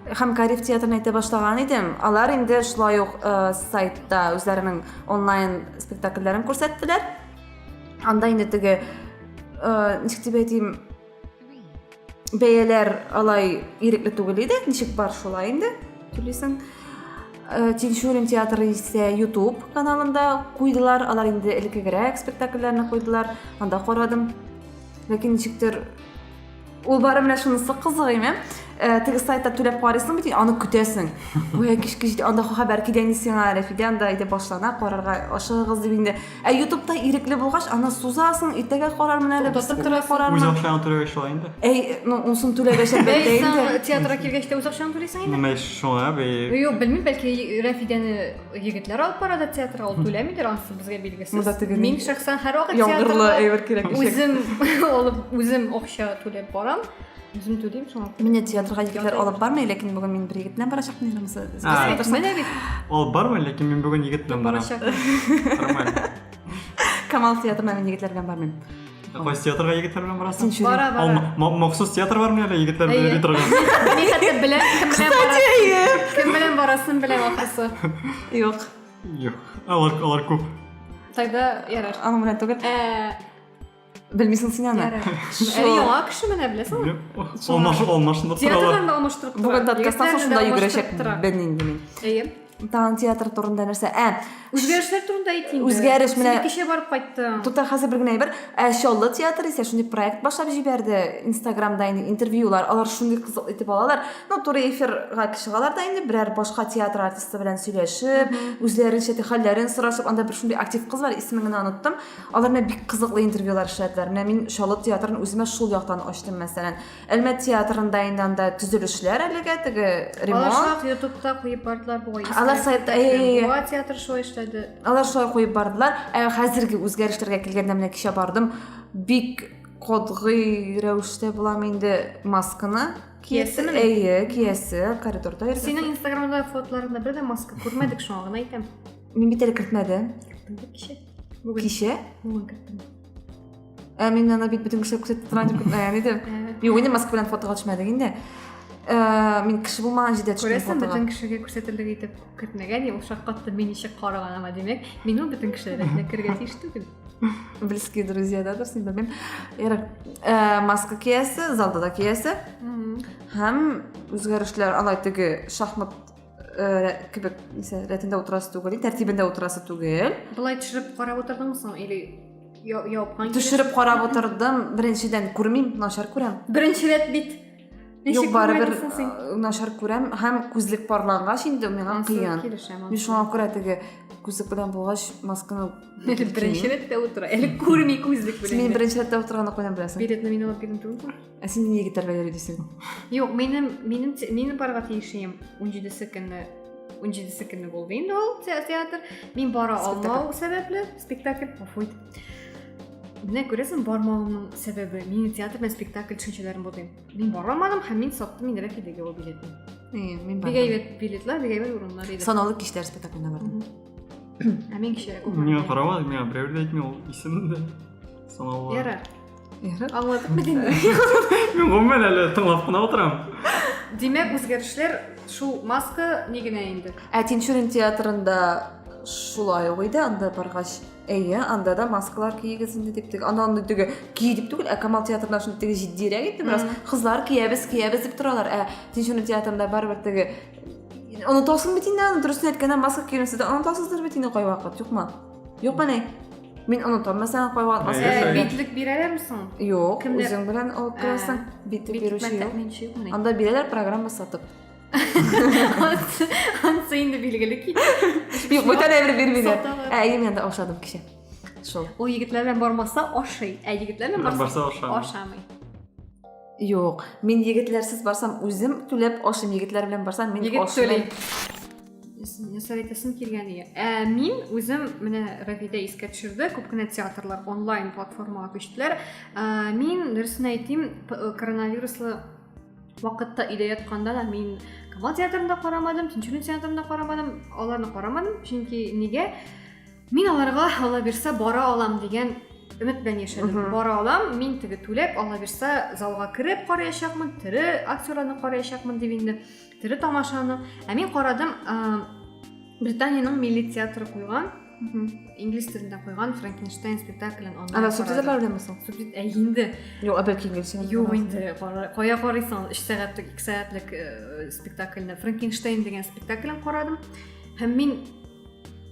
Һәм Кариф театрын әйтә башлаган идем. Алар инде шулай ук э, сайтта үзләренең онлайн спектакльләрен күрсәттеләр. Анда инде теге э, ничек дип әйтим, бәяләр алай ирекле түгел иде ничек бар шулай инде түлисең э, тинчурин театры исә ютуб каналында куйдылар алар инде элеккегерәк спектакльләрне куйдылар анда карадым ләкин ничектер ул бары менә шунысы кызык име э, теге сайтта түләп карыйсың бит аны көтәсең гүя кичке анда хәбәр килгән сиңа рәфидә анда әйдә башлана карарга ашыгыгыз дип инде Ә ютубта ирекле булгач, аны сузасың, иртәгә карармын әле, без Тотып күрә торасың. Үз карармын. акчаңа түләгәч шулай инде. Әй, ну, унсын түләгәч әлбәттә Бәй, инде. саң театрга килгәч тә үз акчаң түлисең инде. Ну, мәш шуңа бе. Юк, белмим, бәлки Рәфидәне егетләр алып бара да театрга, ул түләмидер, анысы безгә билгесез. Монда теге Мин шәхсән һәрвакыт Яңгырлы театрга әйбер кирәк ишәк. үзем алып, үзем акча түләп барам. үзем түлим шуңа күрә менә театрга егетләр алып бармый ләкин бүген мин бер егет белән барачак нигә менә бит алып бармый ләкин мин бүген егет белән барам нормально камал театрына мин егетләр белән бармыйм Кайсы театрга егетләр белән барасың? Бара, бара. Ал махсус театр бармы әле егетләр белән йөри торган? Мин хәтта беләм, кем белән барасың. Кем белән барасын беләм ахрысы. Юк. Юк. Алар алар күп. Тогда ярар. Аның белән түгел. Э, білмейсің сен ана әлі яңа кіші міне білесің ғой алмашындырып театрдан да алмастырып бүгін подкастан соң сонда жүгірешек білмеймін деймін иә таң театр турында нәрсе ә үзгәрешләр турында әйт инде үзгәреш менә кеше барып кайтты туктар хәзер бер генә әйбер ә чаллы театры исә шундый проект башлап җибәрде инстаграмда инде интервьюлар алар шундый кызык итеп алалар ну туры эфирга чыгалар да инде берәр башка театр артисты белән сөйләшеп үзләренчә хәлләрен сорашып анда бер шундый актив кыз бар исемен генә оныттым Алар менә бик кызыклы интервьюлар эшләделәр. Менә мин Чаллы театрын үземә шул яктан ачтым, мәсәлән. Әлмәт театрында инде анда төзелешләр әлегә теге ремонт. Алар шулай ютубта куеп бардылар бугай. Алар сайтта бугай театры шулай эшләде. Алар шулай куеп бардылар. Ә хәзерге үзгәрешләргә килгәндә менә кичә бардым. Бик кодгый рәвештә булам инде масканы киясе әйе киясе коридорда йөрсә синең инстаграмда фотоларыңда бер дә маска күрмәдек шуңа гына әйтәм мин бит әле кертмәдем Бүген. Кичә? Бүген кеттем. Ә мин аны бит бөтен кешеләр күрсәтеп торам дип көтмәгән идем. Юк, инде маска белән фотога төшмәдек инде. Ә, мин кеше булмаган җирдә төштем Күрәсең, фотога. бөтен кешегә күрсәтерлек итеп көтмәгән, ул шаккатты мин ничек караганыма, димәк, мин ул бөтен кешеләр рәтенә керергә тиеш түгел. Близкие друзья, да, дөресен белмим. Ярар. Ә, маска киясе, залда да киясе. Мгм. Һәм үзгәрешләр алай теге шахмат э, кебек нисә рәтендә утырасы түгел тәртибендә утырасы түгел былай төшереп карап утырдыңмы соң или япкан төшереп карап утырдым беренчедән күрмим начар күрәм беренче рәт бит юк барыбер э, начар күрәм һәм күзлек парлангач инде миңа кыен мин шуңа күрә теге күзлек белән булгач масканы әле беренче рәттә утыра әле күрми күзлек белән син минем беренче рәттә утырганны каян беләсең билетны мин алып бирдем түгелме Ә син нигә гитарга йөри дисең? Юк, минем минем минем барга тиешем 17-се көнне 17-се көнне булды инде ул театр. Мин бара алмау сәбәпле спектакль пуфуй. Менә күрәсең, бармавымның сәбәбе мин театр белән спектакль төшенчәләрен булдым. Мин бара алмадым һәм мин саттым инде рәфидәгә ул билетны. Э, мин бардым. Бигә әйбәт билетлар, бигә әйбәт урыннар иде. Санаулы кичләр спектакльне бардым. Ә мин кичә. Миңа каравы, миңа берәү дә әйтми ул исемне. Санаулы. Ярар. аңладыңмы димме мин гомумән әле тыңлап кына утырам димәк үзгәрешләр шул маска ни генә инде ә тинчурин театрында шулай ук иде анда баргач әйе анда да маскалар киегез инде дип теге анда андый теге ки дип түгел ә камал театрында шундый теге җитдирәк инде бераз кызлар киябез киябез дип торалар ә тинчурин театрында барыбер теге онытасың бит инде аны дөресен әйткәндә маска киюне сез дә онытасыздыр бит инде кайвакыт юкмы Юк менә Мин онытам, мәсәлән, кайван аз Ә, битлек бирәләрме соң? Юк, Кемдә? үзең белән алып керәсең. Битлек бирүче юк. Анда бирәләр программа сатып. Ансы инде билгеле кит. Юк, бүтән әмер бирмиләр. Ә, әйем янда ашадым кеше. Шул. Ул егетләр белән бармаса ашый, ә егетләр белән барса ашамый. Юк, мин егетләрсез барсам, үзем түләп ашыйм, егетләр белән барсам, мин ашыйм. Советасын килгән ие. Ә мин үзем менә Равида искә төшерде, күп кенә театрлар онлайн платформага күчтеләр. Ә, мин дөресен әйтим, э, коронавируслы вакытта өйдә ятканда да мин Камал театрын да карамадым, Тинчурин театрын да карамадым, аларны карамадым, чөнки нигә? Мин аларга ала бирсә бара алам дигән өмет белән яшәдем. Бара алам, мин теге түләп, ала бирсә залга кереп караячакмын, тере актерларны караячакмын дип инде Тере тамашаны. Ә мин карадым, Британиянең милли театры куйган инглиз телендә куйган франкенштейн спектаклен онлайн ана субтитрлар беләнме соң субтит ә инде юк ә бәлки инглиз юк инде кая карыйсың өч сәгатьлек ике сәгатьлек э, спектакльне франкенштейн деген спектаклен карадым һәм мин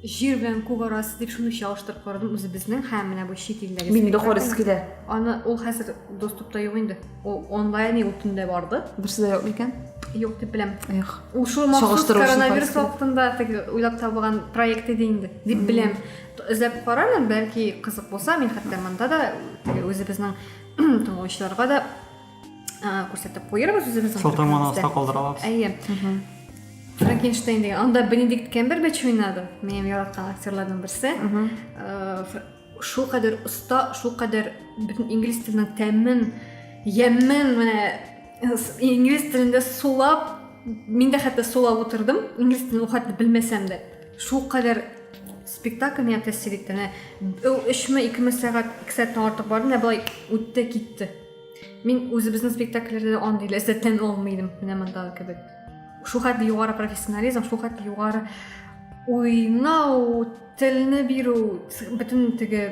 Җир белән күк арасы дип шуны чагыштырып карадым үзебезнең һәм менә бу чит илдәге. Мин дә карыйсы килә. Аны ул хәзер доступта юк инде. Ул онлайн ул төндә барды. Берсе дә юк микән? Юк дип беләм. Эх. Ул шул махсус коронавирус вакытында теге уйлап табылган проект иде инде дип беләм. Эзләп карармын, бәлки кызык булса, мин хәтта монда да үзебезнең тыңлаучыларга да күрсәтеп куербыз үзебезнең сылтаманы аста калдыра алабыз әйе франкенштейн деген анда бенедикт кембербэтч уйнады минем яраткан актерларның берсе шул кадәр оста шул кадәр бөтен инглиз теленең тәмен ямен менә инглиз телендә сулап мин дә хәтта сулап утырдым инглиз телен хәтта белмәсәм дә шул кадәр спектакль миңа тәэсир итте менә ул өчме икеме сәгать ике сәгатьтән артык барды менә былай үтте китте Мин үзебезнең спектакльләрдә дә андый ләззәттән алмый идем, менә монда кебек. Шул хәтле югары профессионализм, шул хәтле югары уйнау, телне бирү, бөтен теге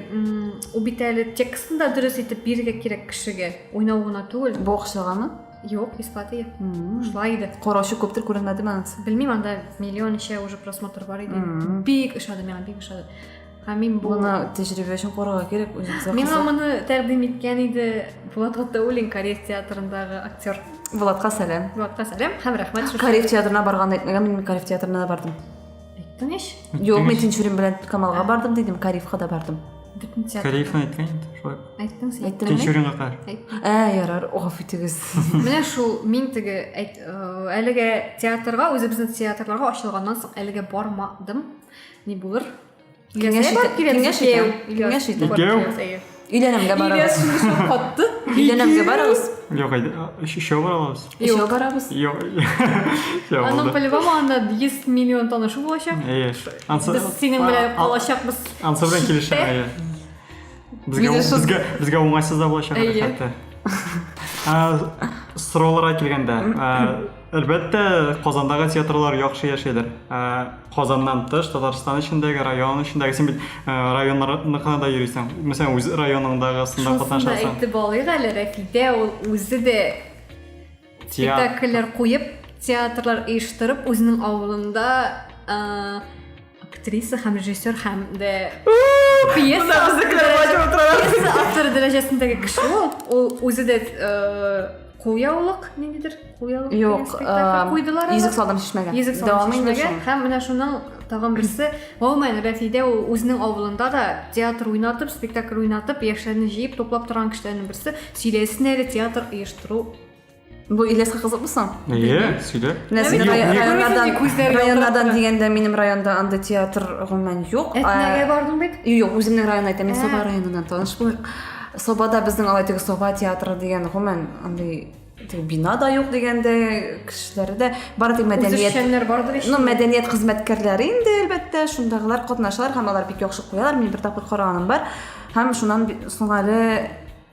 убитәле текстын да дөрес итеп бирергә кирәк кешегә. Уйнау гына түгел. Бу акчагамы? Юк, бесплатный. Шулай иде. Караучы күптер күренмәдеме анысы? Белмим, анда миллион ничә уже просмотр бар иде. Бик ошады миңа, бик ошады. һәм мин бу моны тәҗрибә өчен карарга кирәк үзебезгә миңа моны тәкъдим иткән иде булат гатауллин кореец театрындагы актер булатка сәлам булатка сәлам һәм рәхмәт кореец театрына барганын әйтмәгән мин кореец театрына да бардым айттың ич юк мин тинчурин белән камалга бардым дидем кариевка да бардым бөтен театр кариевны айткан инде шулай айттың сен айттым тинчуринга кар ә ярар гафу итегез менә шул мин теге әлеге театрга үзебезнең театрларга ачылганнан соң әлегә бармадым Ни булыр? Киңәш итә. Киңәш итә. Киңәш итә. Икәү. Өйләнемгә барабыз. Катты. Өйләнемгә барабыз. Юк, әйдә. Өчәү барабыз. Өчәү барабыз. Юк. Аның по-любому анда 100 миллион танышу булачак. Әйе. Без синең белән калачакбыз. Ансы белән килешәм, әйе. Безгә безгә безгә уңайсыз да булачак хәтта. Сорауларга килгәндә, Әлбәттә, Казандагы театрлар яхшы яшәйләр. Ә Казаннан тыш, Татарстан эчендәге, район эчендәге, син бит э, районнарныкына да йөрисең. Мәсәлән, үз районыңдагысында Шунысын да катнашасың. әйтеп алыйк әле, Рәфидә ул үзе дә спектакльләр куеп, театрлар оештырып, үзенең авылында э, Актриса һәм режиссер һәм дә пьеса автор дәрәҗәсендәге кеше ул. Ул үзе дә кулъяулык ниндидер кулъяулык юк куйдылар йөзек салдым шешмәгән йөзек салдым шешмәгән һәм менә шуның тагын берсе гомумән рәфидә ул үзенең авылында да театр уйнатып спектакль уйнатып яшьләрне җыеп туплап торган кешеләрнең берсе сөйләсен әле театр оештыру Бу Ильяска кызыкмы соң? Әйе, сөйлә. Менә син Юк, рай- ни- районнардан, Күзләре күзләре районнардан ялтырап дигәндә минем районда андый театр гомумән юк. Әтнәгә Ә, бардың бит? Юк, үземнең районны әйтәм, мин Ә. Соба районыннан таныш булыйк. Собада безнең алай теге Соба театры дигән гомумән андый теге бина да юк дигәндә кешеләре дә бар тик мәдәният Үзешчәннәр бардыр ич. Ну, мәдәният хезмәткәрләре инде, әлбәттә, шундагылар катнашалар һәм алар бик яхшы куялар. Мин бер тапкыр караганым бар. Һәм шуннан би- соң әле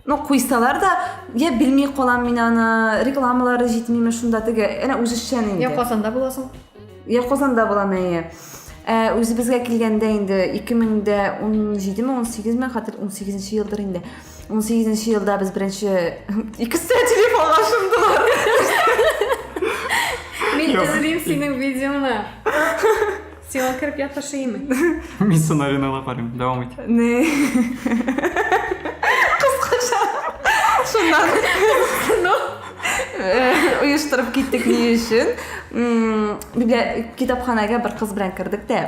Ну, куйсалар да, я белми калам мин аны, рекламалары җитмиме шунда теге, әнә үзешчән инде. Я Казанда буласың. Я Казанда булам әйе. Ә үзебезгә килгәндә инде 2017 ме, 18 ме, хәтер 18 елдыр инде. 18 елда без беренче икесе телефонга шындылар. Мин эзлим синең видеоны. Сиңа кереп ятышыймы? Мин сценарийны карыйм. Дәвам ит. Не. Кыскача. Шуннан. Ну, оештырып э, киттек ни өчен. Бибия китапханәгә бер кыз белән кердек тә.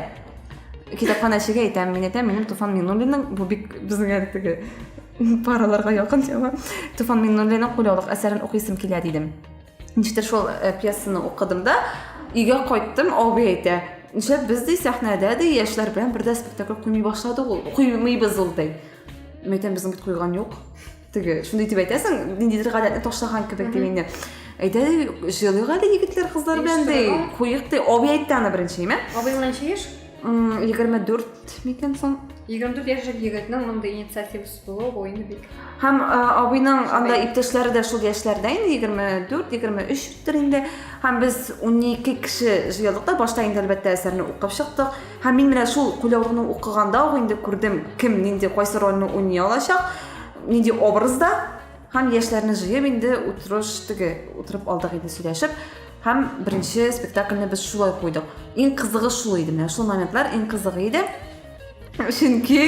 Китапханәчегә әйтәм, мин әйтәм, минем Туфан Миннуллинның бу бик безнең әлеге параларга якын тема. Туфан Миннуллинның кулъяулык әсәрен укыйсым килә дидем. Ничектер шул э, пьесаны укыдым да, өйгә кайттым, абый әйтә, нишләп без ди сәхнәдә ди яшьләр белән бердә спектакль куймый башлады ул, куймыйбыз ул ди. Мин әйтәм, безнең бит куйган юк. Теге, шундый дип әйтәсең, ниндидер гадәтне ташлаган кебек дип инде. Әйтә ди, җыелыйк әле егетләр, кызлар белән ди, Оештырырга. куйык ди, абый әйтте аны беренче, имә. Абыйның ничә яшь? М, 24 микән соң? 24 яшьлек егетнең мондый инициативасы Зур ойны бик. Һәм абыйның анда иптәшләре дә шул яшьләрдә инде 24-23 төр инде. Һәм без 12 кеше җыелдык та башта инде әлбәттә әсәрне укып чыктык. Һәм мин менә шул кулъяулыкны укыганда ук инде күрдем, кем нинди кайсы рольне уйный алачак, нинди образда. Һәм яшьләрне җыеп инде утырыш теге утырып алдык инде сөйләшеп. Һәм беренче спектакльне без шулай куйдык. Иң кызыгы шул иде менә шул моментлар иң кызыгы иде. чөнки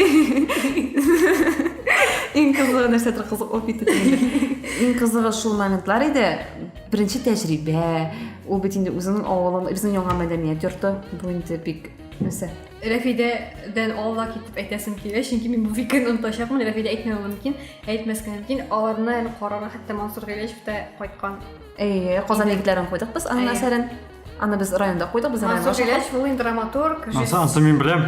иң кызыгы нәрсәдер кызык булып китте иң кызыгы шул моментлар иде беренче тәҗрибә ул бит инде үзеңнең авылың безнең яңа мәдәният йорты бу инде бик нәрсә рәфидәдән алла китеп әйтәсем килә чөнки мин бу фикерне онытачакмын рәфидә әйтмәве мөмкин әйтмәскә мөмкин аларны әле карарга хәтта мансур гыйләҗев тә кайткан әйе казан егетләрен куйдык без аның әсәрен Аны без районда куйдык, без районда Мансур Җиләч, ул инде драматург. Ансы, ансы мин беләм.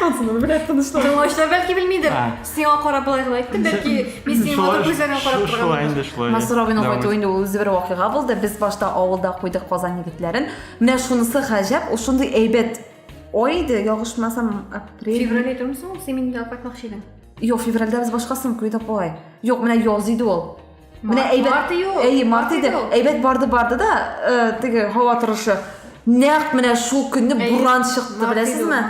Ансы мин беләм, тынычлар. Тыңлаучылар бәлки белмидер. Сиңа карап былай гына әйттем, бәлки мин синең матур күзләреңә карап торган. Шулай инде, шулай. Мансур абыйның кайтуы инде үзе бер вакыйга булды. Без башта авылда куйдык Казан егетләрен. Менә шунысы гаҗәп, ул шундый әйбәт ой иде, ягышмасам, апрель. Февраль идеме соң? Син мине алып кайтмакчы идең. Юк, февральдә без башкасын куйдык болай. Юк, менә яз иде ул. Менә әйбәт. Марты юк. Әйе, марты иде. Әйбәт барды барды да, э, теге һава торышы. Нәкъ менә шул көнне буран чыкты, беләсезме?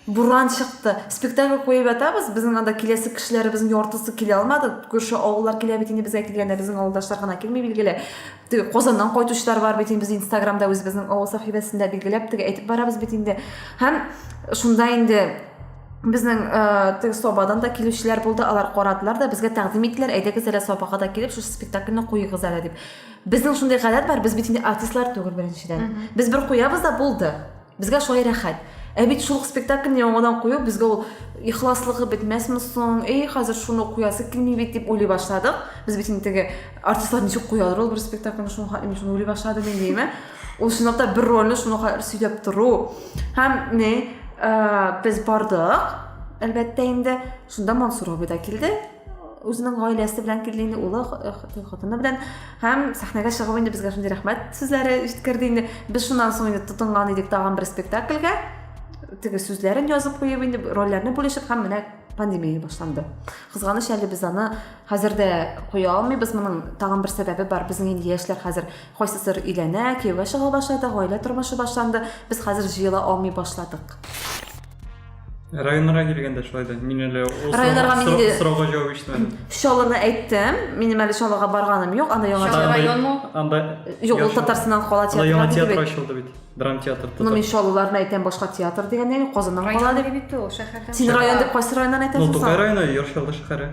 Буран чыкты. Спектакль куеп ятабыз, безнең анда киләсе кешеләребезнең яртысы килә алмады. Күрше авыллар килә бит инде безгә килгәндә, безнең авылдашлар гына килми билгеле. Теге Казаннан кайтучылар бар бит инде без Инстаграмда үзебезнең авыл сәхифәсендә билгеләп теге әйтеп барабыз бит инде. Һәм шунда инде Безнең э, теге собадан да килүчеләр булды, алар карадылар да безгә тәкъдим иттеләр, әйдәгез әле собага да килеп, шушы спектакльне куегыз әле дип. Безнең шундый гадәт бар, без бит инде артистлар түгел беренчедән. Без бер куябыз да булды. Безгә шулай рәхәт. Ә бит шул спектакльне яңадан кую безгә ул ихласлыгы бетмәсме соң? Эй, хәзер шуны куясы килми бит дип уйлый башладык. Без бит инде теге артистлар ничек куялар ул бер спектакльне шуңа, мин шуны уйлый башладым инде, Ул чынлап та бер рольне шуңа кадәр сөйләп тору. Һәм ни, без бардык, әлбәттә инде, шунда Мансур абый да килде. Үзенең гаиләсе белән килде инде, улы, хатыны белән. Һәм сәхнәгә чыгып инде безгә шундый рәхмәт сүзләре җиткерде инде. Без шуннан соң инде тотынган идек тагын бер спектакльгә. Теге сүзләрен язып куеп инде, рольләрне бүлешеп һәм менә пандемия башланды. Кызганыч әле без аны хәзер дә куя алмыйбыз. Моның тагын бер сәбәбе бар. Безнең инде яшьләр хәзер Кайсыдыр өйләнә, кияүгә чыга башлады, гаилә тормышы башланды. Без хәзер җыела алмый башладык. Районнарга килгәндә шулай да. Мин әле ул Районнарга мин инде- сорауга җавап ишетмәдем. Чаллыны әйттем. Минем әле Чаллыга барганым юк. Анда яңа Чаллы район му? Анда Юк, ул яшь- Татарстаннан кала Анда яңа театры театр бит. ачылды бит. Драм театр. Ну, татар. мин Чаллыларны әйтәм, башка театр дигәндә юк, Казаннан кала Район дип. бит ул, шәһәрдән Син чыга. район дип кайсы районнан Ну, әйтәсең Тукай соң? районы, Яр Чаллы шәһәре.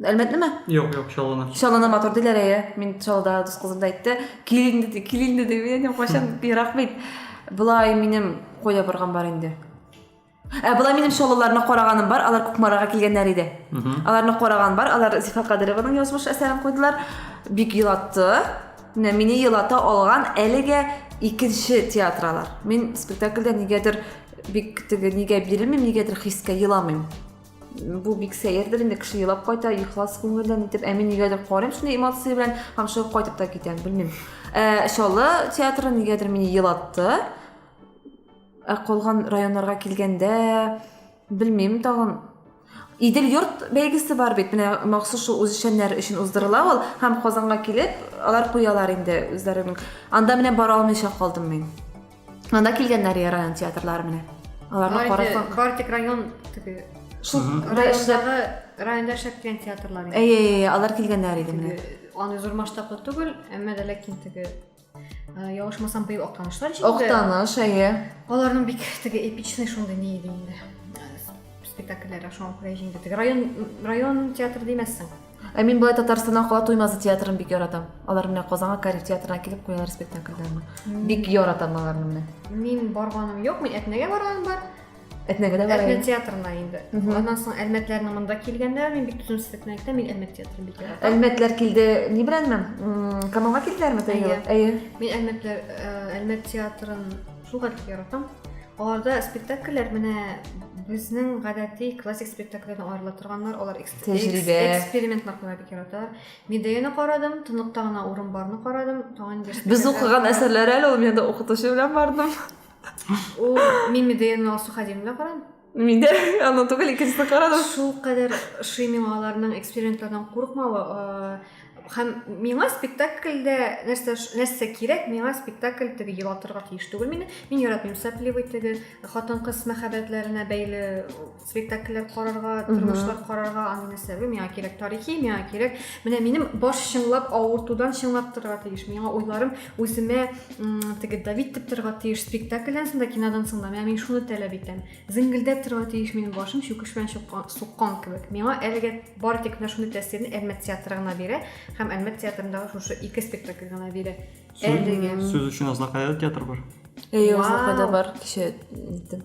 Әлмәтне ме? Юк, юк, Чаллыны. Чаллыны матур диләр, әйе. Мин Чаллыда дус кызым да әйтте. Кил инде, ди, кил инде, ди. Мин әйтәм, кайчан ерак бит. Болай минем кая барган бар инде. Ә болай минем Чаллыларны караганым бар, алар Кукмарага килгәннәр иде. Аларны караган бар, алар Зифа Кадырованың язмыш әсәрен куйдылар. Бик елатты. Менә мине елата алган әлегә икенче театр алар. Мин спектакльдә нигәдер бик теге нигә бирелмим, нигәдер хискә еламыйм. бу бик сәердер инде кеше елап кайта ихлас күңелдән итеп ә мин нигәдер карыйм шундый эмоция белән һәм шуңа кайтып та китәм белмим ә, чаллы театры нигәдер мине елатты ә калган районнарга килгәндә белмим тагын Идел йорт бәйгесе бар бит, менә махсус шул үзешчәннәр өчен уздырыла ул, һәм Казанга килеп, алар куялар инде үзләренең. Анда менә бара алмыйча калдым мин. Анда килгәннәр я район театрлары менә. Аларны карасаң. Бар тик район теге. Шул райондагы районда эшләп килгән театрлар. Әйе, әйе, алар килгәннәр иде менә. Аны зур масштаблы түгел, әмма дә ләкин теге э, Явышмасам быел Актанышлар җиңде. Актаныш, әйе. Аларның бик теге эпичный шундый ни иде инде. Э, спектакльләре шуңа күрә җиңде. Теге район район театры димәссең. Ә мин болай Татарстаннан кала Туймазы театрын бик яратам. Алар менә Казанга Кариф театрына килеп куялар спектакльләрне. Бик яратам аларны менә. Мин барганым юк, мин Әтнәгә барганым бар. Әтнәгә дә барам. Әтнә театрына инде. Аннан соң Әлмәтләрнең монда килгәннәр, мин бик түземсезлек белән әйтәм, мин Әлмәт театрын бик яратам. Әлмәтләр килде, ни беләнме? Камалга килделәрме тәйгә? Әйе. Мин Әлмәтләр, э, Әлмәт театрын шул гадәтле яратам. Аларда спектакльләр менә безнең гадәти классик спектакльләрдән аерыла торганнар, алар тәҗрибә. Экспериментлар куя бик яраталар. Медеяны карадым, тынлыкта гына урын барны карадым. Тагын инде Без укыган әсәрләр әле ул менә укытучы белән бардым. Ул мин Медеяны Алсу Хадим белән карадым. Мин дә аны түгел икенчесен карадым. Шул кадәр ошый миңа аларның экспериментлардан курыкмавы, һәм миңа спектакльдә нәрсә нәрсә кирәк миңа спектакль теге елатырга тиеш түгел мине мин яратмыйм сопливый теге хатын кыз мәхәббәтләренә бәйле спектакльләр карарга тормышлар карарга аны нәрсә бу миңа кирәк тарихи миңа кирәк менә минем баш чынлап авыртудан чыңлап торырга тиеш миңа уйларым үземә теге давить итеп торырга тиеш спектакльдән соң да кинодан соң да менә мин шуны таләп итәм зеңгелдәп торырга тиеш минем башым чүкеш белән суккан кебек миңа әлегә бары тик менә шундый тәэсирне әлмәт театры гына бирә һәм әлмәт театрындагы шушы ике спектакль гына бирә әлегә сүз өчен азнакайда театр бар әйе азнакайда бар кичә иттем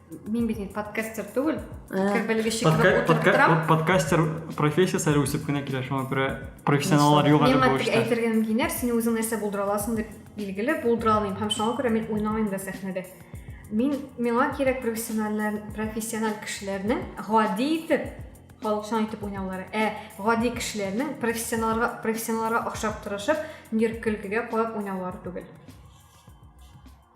Мин бит инде подкастер түгел. Подкаст белгече кебек Подка- утырып подка- торам. под- подкастер профессиясы әле үсеп кенә килә, шуңа күрә профессионаллар юк әле Миңа бу тик эштә. әйтергә мөмкиннәр, син үзең нәрсә булдыра аласың дип билгеле, булдыра алмыйм. Һәм шуңа күрә мин уйнамыйм да сәхнәдә. Мин миңа кирәк профессиональлар, профессиональ кешеләрнең гади итеп халыкчан итеп уйнаулары. Ә гади кешеләрнең профессионалларга профессионалларга охшап тырышып, нир көлкегә куеп уйнаулары түгел.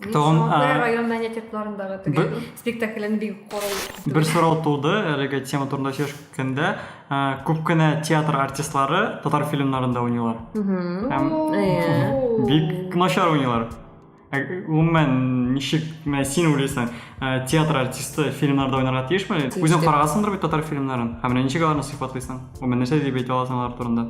Тагын Сабантуй районына нәтипларындагы теге спектаклен бик карау. Бер сорау туды әлеге тема турында сөйләшкәндә. Күп кенә театр артистлары татар фильмнарында уйныйлар. Һәм бик начар уйныйлар. Гомумән, ничек менә син уйлыйсың, театр артисты фильмнарда уйнарга тиешме? Үзең карагансыңдыр бит татар фильмнарын. Һәм менә ничек аларны сыйфатлыйсың? Гомумән, нәрсә дип әйтә аласың алар турында?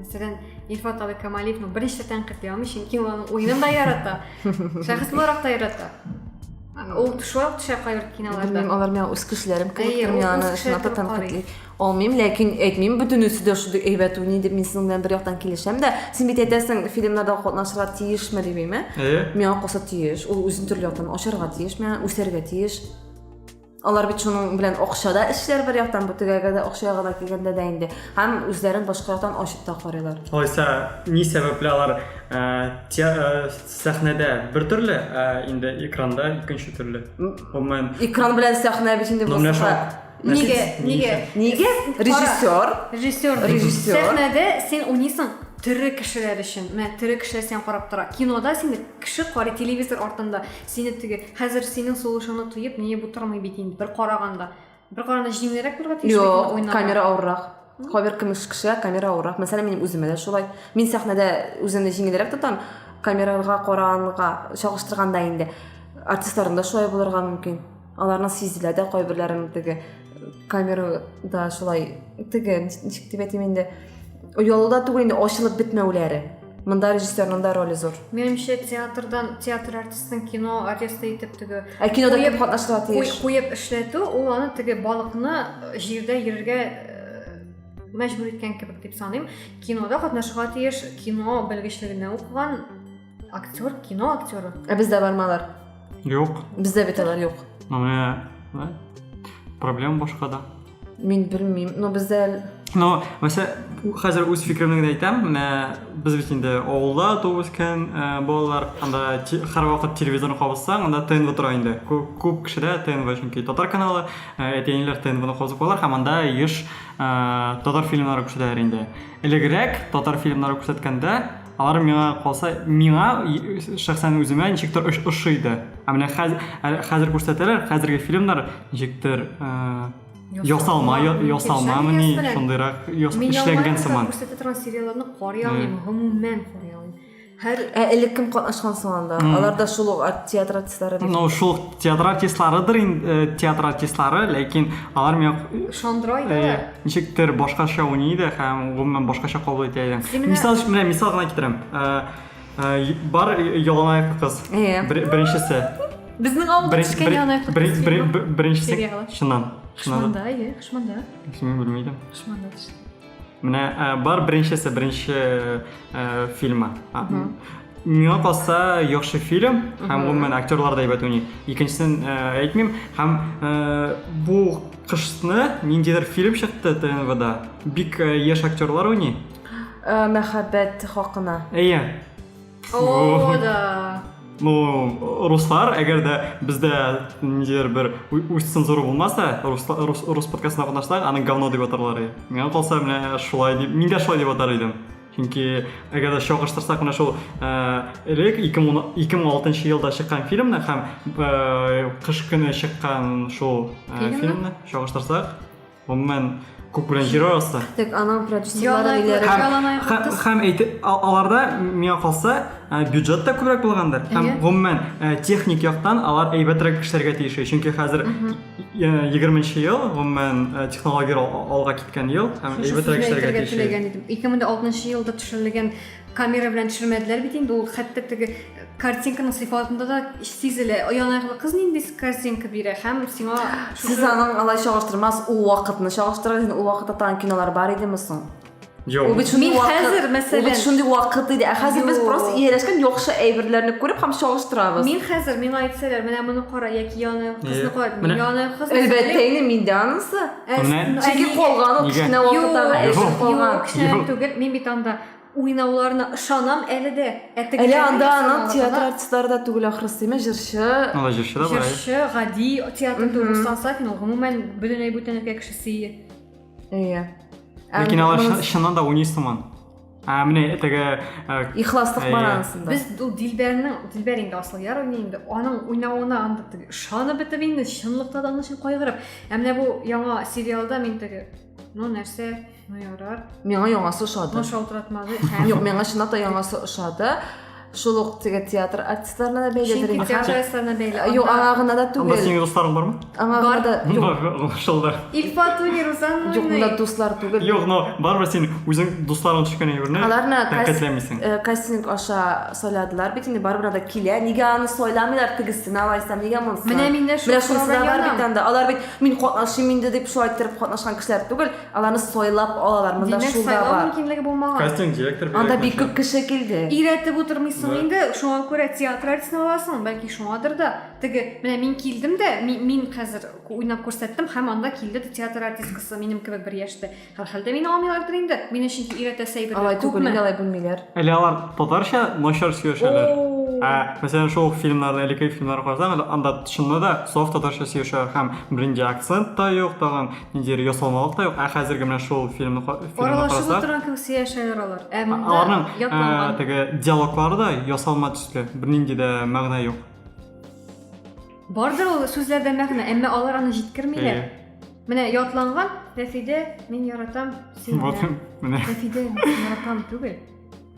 мәсәлән илфат абый камалиевны берничә тәнкыйть ярамый чөнки ул аның уенын да ярата шәхес буларак та ярата ул шулай ук төшә кайбер киноларда белмим алар миңа үз кешеләрем кебек тормый аны шуңа да тәнкыйтьли алмыйм ләкин әйтмим бөтенесе дә шундый әйбәт уйный дип мин синең белән бер яктан килешәм дә син бит әйтәсең фильмнарда катнашырга тиешме димим ә миңа калса тиеш ул үзен төрле яктан ачарга тиеш миңа үсәргә тиеш Алар бит шуның белән акча да эшләр бер яктан, бу тегәгә дә акча ягына килгәндә дә инде. Һәм үзләрен башка яктан ачып та карыйлар. Алайса, ни сәбәпле алар сәхнәдә бер төрле, ә инде экранда икенче төрле? Гомумән. Экран белән сәхнә бит инде башка. Нигә? Нигә? Нигә? Режиссер. Режиссер. Режиссер. Сәхнәдә син уйныйсың тере кешеләр өчен. Менә тере кешеләр сиңа карап тора. Кинода сине кеше карый, телевизор артында. Сине теге, хәзер синең сулышыңны тоеп, миеп утырмый бит инде, бер караганда. Бер караганда җиңелрәк булырга тиеш Юк, уйнарга. камера авыррак. Кайбер кемеш кешеләр камера авыррак. Мәсәлән, минем үземә дә шулай. Мин сәхнәдә үземне җиңелрәк тотам, камерага караганга чагыштырганда инде артистларым да шулай булырга мөмкин. аларның сизделәр дә кайберләрен теге камерада шулай теге ничек дип әйтим инде оялуда түгел инде ачылып бетмәүләре мында режиссерның да роле зур менимчә театрдан театр артистын кино артисты итеп теге ә кинода кем катнашырга тиеш куеп эшләтү ул аны теге балыкны э, җирдә йөрергә э, мәҗбүр иткән кебек дип саныйм кинода катнашырга тиеш кино белгечлегенә укыган актер кино актеры ә бездә бармы алар юк бездә бит алар юк менә проблема башкада мин белмим но бездә но мәсә хәзер үз фикеремне генә әйтәм менә без бит инде авылда туып үскән э, балалар анда һәрвакыт телевизорны кабызсаң анда тнв тора инде күп кешедә тнв чөнки татар каналы э, әти әниләр тнвны кабызып куялар һәм анда еш э, татар фильмнары күрсәтәләр инде элегрәк татар фильмнары күрсәткәндә Алар миңа калса, миңа шәхсән үземә ничектер ошыйды. Ә менә хәзер хәзер күрсәтәләр, хәзерге фильмнар ничектер ясалма, ясалмамы ни, шундыйрак эшләнгән сыман. Мин күрсәтә торган сериалларны карый алмыйм, гомумән карый алмыйм. Һәр ә элек кем катнашкан соң анда? Алар да шул ук театр артистлары бит. Ну, шул театр артистларыдыр инде, театр артистлары, ләкин алар миңа шандырай да. Ничектер башкача уйный иде һәм гомумән башкача кабул итә идең. Мисал өчен менә мисал гына китерәм. Бар яланаяк кыз. Беренчесе. Безнең авылда төшкән яланаяк кыз. Беренчесе. Чыннан. Хышманда, иә, Хышманда. Син белмидең. Хышманда төште. Менә бар беренчесе, беренче Э, фильмы. миңа калса яхшы фильм һәм гомумән актерлар да әйбәт уйный икенчесен э, әйтмим һәм э, бу кышны ниндидер фильм чыкты тнвда бик яшь актерлар уйный мәхәббәт хакына әйе о да ну руслар әгәр дә бездә ниндидер бер үз цензура булмаса рус, рус, рус подкастына катнашсак аны говно дип атарлар иде миңа калса менә шулай дип мин дә шулай дип атар идем чөнки әгәр дә чагыштырсак менә шул элек ике мең алтынчы елда чыккан фильмны һәм кыш көне чыккан шул фильмны чагыштырсак Гомумән, күк белән җир арасы. Тек аның продюсерлары диләр. Һәм аларда миңа калса э, бюджет та күбрәк булгандыр. Һәм гомумән э, техник яктан алар әйбәтрәк эшләргә тиеш. Чөнки хәзер 20 э, ел, гомумән технология алга киткән ел һәм әйбәтрәк эшләргә тиеш. 2006 елда төшерелгән камера белән төшермәделәр бит инде ул хәтта теге картинканың сыйфатында да сизелә оянарлы кыз нинди картинка бирә һәм сиңа сез аның алай чагыштырмас ул вакытны чагыштырыгыз инде ул вакытта тагын кинолар бар идеме соң Жоқ. Ул бит шундый вакыт. Хәзер мәсәлән. Ул бит шундый вакыт иде. Ә хәзер без просто ияләшкән яхшы әйберләрне күреп һәм чагыштырабыз. Мин хәзер миңа әйтсәләр, менә моны кара, яки яны кызны кара. Мин яны кыз. Әлбәттә инде мин дә анысы. Чөнки калган ул кечкенә вакыттагы әйбер калган. Юк, түгел. Мин бит анда Уйнауларына ышанам әле дә. Ә тегеләрне Әле анда ясамалыгына... аның театр артистлары да түгел ахрысы, димә, җырчы. Алай җырчы да бар әле. Җырчы, гади театр түгел. Руслан Сафин ул гомумән бөтенләй бүтән өлкә кешесе ие. Ие. Ләкин алар чыннан да уйный сыман. Ә менә теге ихласлык бар анысында. Без ул Дилбәрнең, Дилбәр инде Асылъяр уйный инде. Аның уйнавына анда ышанып бетеп инде, чынлыкта да аның өчен кайгырып. Ә менә бу яңа сериалда мин теге, ну нәрсә, Ну ярар. Миңа яңасы ошады. Ну шалтыратмады. Юк, миңа чынлап та яңасы ошады. Шул ук теге театр артистларына да бәйледер инде. Театр артистларына бәйле. Э, юк, аңа гына да түгел. Анда синең дусларың бармы? Аңа гына да. Юк, шулда. Ильфатуни Рузан. Юк, монда дуслар түгел. Юк, но барыбер син үзең дусларың төшкән әйберне аларны тәкәтләмисең. Э, кастинг аша сайладылар бит инде, барыбер да килә. Нигә аны сайламыйлар тегесен алайса? Нигә монысы? Менә миндә шул. Менә шул бар бит анда. Алар бит мин катнашым инде дип шулай торып катнашкан кешеләр түгел. Аларны сайлап алалар, монда Димәк, шулда сайлау бар. мөмкинлеге булмаган. Кастинг директор бирә. Анда бик күп кеше килде. Өйрәтеп утырмыйсың Да. инде, шуңа күрә театр артистын аласың, бәлки шуңадыр да. Теге, менә мин килдем дә, ми- мин хәзер ку- уйнап күрсәттем һәм анда килде ди театр артисткасы минем кебек бер яшьтә. Һәрхәлдә мине алмыйлардыр инде. Мине чөнки өйрәтәсе Алай әйберләр түгел, инде күпме. алай белмиләр. Әле алар татарча начар сөйләшәләр. Оу. Ә, мәсәлән, шул ук фильмнарда, элеккеге фильмнарда карасаң, әле анда чынлы да саф татарча сөйләшәләр һәм бернинди акцент та юк тагын. ниндидер ясалмалык та юк ә хәзерге менә шул фильмны аралашып отырган кебек сөйләшәләр алар ә монда аларның ә, теге диалоглары да ясалма төсле бернинди дә мәгънә юк бардыр ул сүзләрдә мәгънә әмма алар аны җиткермиләр э. менә ятланган рәфидә мин яратам сине вот менә рәфидә мин яратам түгел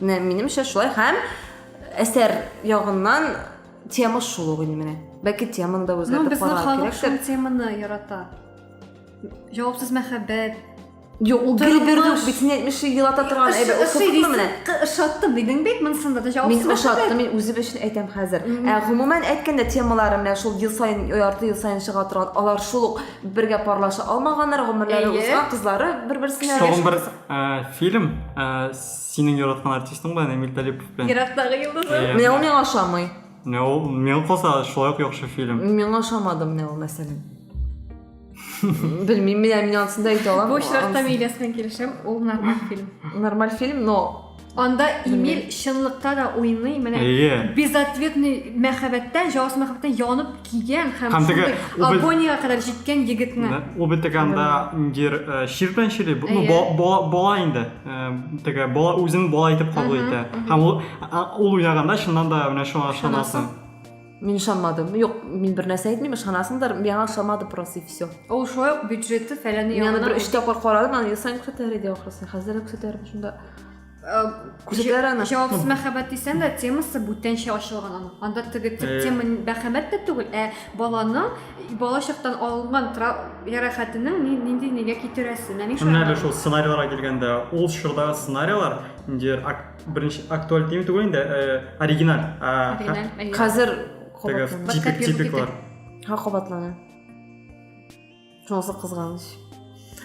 Менә минемчә шулай һәм әсәр ягыннан тема шул ук инде менә. Бәлки теманы да үзгәртеп ну, карау кирәк. Безнең халык теманы ярата. Җавапсыз мәхәббәт, Юк, ул гел бирде, битен әйтмеше елата торган әйбәт. Ошаттымы менә? Ошаттым дидең бит, монсында да җавап Мин ошаттым, мин үзем өчен әйтәм хәзер. Ә гомумән әйткәндә темалары менә шул ел саен, ярты ел саен чыга торган, алар шул ук бергә парлаша алмаганнар, гомерләре узган кызлары бер-берсенә. Тагын бер фильм Синең яраткан артистың бар, Эмиль Талипов белән. Ерактагы йолдызым. Иә. Менә ул миңа ошамый. Менә ул миңа калса шулай ук яхшы фильм. Миңа ошамады менә ул мәсәлән. Белмим, менә мин анысын да әйтә алам. Бу очракта мин Ильяс белән килешәм, ул нормаль фильм. Нормаль фильм, но Анда Эмиль чынлыкта да уйный, менә Әйе. безответный мәхәббәттән, җаваплы мәхәббәттән янып кигән һәм Һәм теге шундый ул бел- агониягә кадәр җиткән егетне. Да. Ул бит теге анда ниндидер э, чир белән чили, бу- ну, Әйе. ба- бала, бала инде. Э, Теге бала үзен бала итеп кабул итә. Һәм ул, а- ул уйнаганда чыннан да менә шуңа ышанасың. Мин ышанмадым. Юк, мин бер нәрсә әйтмим, ышанасыңдыр. Миңа ошамады просто и все. Ул шулай ук бюджеты фәләне Мин аны ягына бер өч тапкыр карадым, аны ел саен күрсәтәләр иде ахрысы. Хәзер дә күрсәтәләр шунда. Күзәтәләр аны. Җавапсыз ну. мәхәббәт дисәң дә, темасы бүтәнчә ачылган аның. Анда теге төп э. тема мәхәббәт тә түгел, ә баланың бала чактан алынган ярәхәтенең нинди нигә китерәсе. Менә шул. Менә шул сценарийларга килгәндә, ул чорда сценарийлар инде беренче актуаль дими түгел инде, э, оригиналь. Оригиналь. Хәзер типик типиклар. Ха кабатлана. Шунысы кызганыч.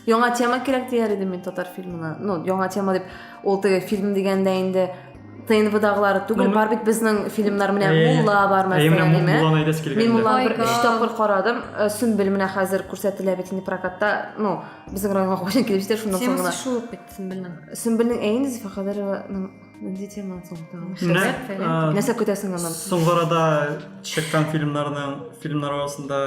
Яңа тема кирәк дияр идем мин татар фильмына. Ну, яңа тема дип, ул теге фильм дигәндә инде ТНВдагылары түгел, ну, бар бит безнең фильмнар менә э, Мулла бар мәсәлән, әйме. Мин Мулланы бер өч тапкыр карадым. Э, Сүмбел менә хәзер күрсәтелә бит инде прокатта. Ну, безнең районга кайчан килеп җитә, шуннан соң гына. Темасы шул бит Сүмбелнең. Сүмбелнең әйе Зифа Хәдәрованың нинди теманы соң тагын? Нәрсә көтәсең аннан? Соңгы арада чыккан фильмнарның фильмнар арасында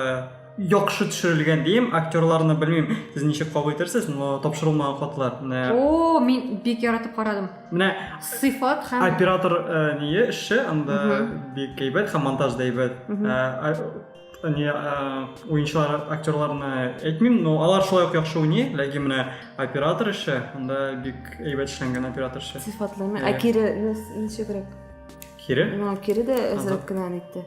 Яхшы төшерелгән дим, актерларны белмим, сез ничек кабул итәрсез, но тапшырылмаган хатлар. Менә О, мин бик яратып карадым. Менә сыйфат һәм оператор э, ние эше анда бик әйбәт һәм монтаж да әйбәт. Э, э, не уенчылар актерларны әйтмим, но алар шулай ук яхшы уйный, ләкин менә оператор эше анда бик әйбәт эшләнгән оператор эше. Сыйфатлы. Ә кире ничегрәк? Кире? Ну, кире дә әзрәк кенә әйтте.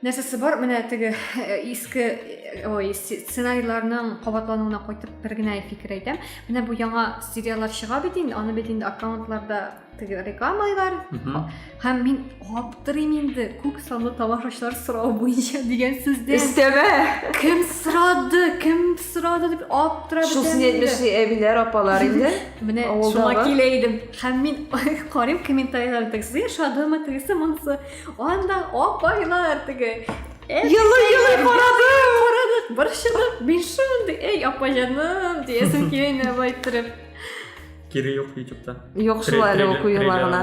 нәрсәсе бар менә теге э, иске э, ой сценарийларның кабатлануына кайтып бер генә фикер әйтәм менә бу яңа сериаллар чыга бит инде аны бит инде аккаунтларда теге рекламалар һәм мин аптырыйм инде күп санлы тамашачылар сорау буенча дигән сүздән өстәмә кем сорады кем сорады дип аптырап шул син әйтмешли әбиләр апалар инде менә шуңа килә идем Һәм мин карыйм комментарийлар тегесе яшадымы, тегесе монысы. Анда апайлар теге. Елый-елый карадым. Карадык, борчылып, мин шундый, эй, апа җаным, диясем килә, былай иттереп. Кире юк ютубта. Юк шулай әле укуюларына.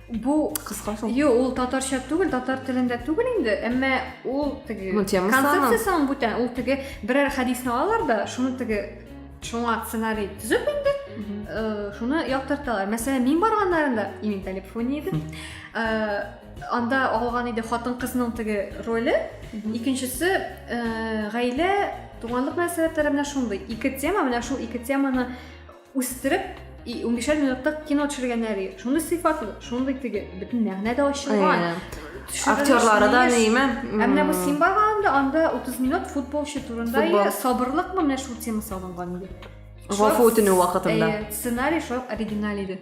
Бу кыска шул. Юк, ул татарча түгел, татар телендә түгел инде, әмма ул теге ну, концепциясе аның бүтән, ул теге берәр хәдисне алалар да, шуны теге шуңа сценарий төзеп инде, э, шуны яктырталар. Мәсәлән, мин барганнарында Имин Талипфуни иде. Э, анда алган иде хатын-кызның теге роле. Икенчесе э, гаилә, туганлык мәсьәләләре менә шундый. Ике тема, менә шул ике теманы үстереп и унбишәр минуттык кино төшергәннәр и шундый сыйфатлы шундый теге бөтен мәгънә дә ачылган актерлары да неме ә менә бу син барганда анда утыз минут футболчы турында и сабырлыкмы менә шул тема салынган иде гафу үтенү вакытында сценарий шул оригиналь иде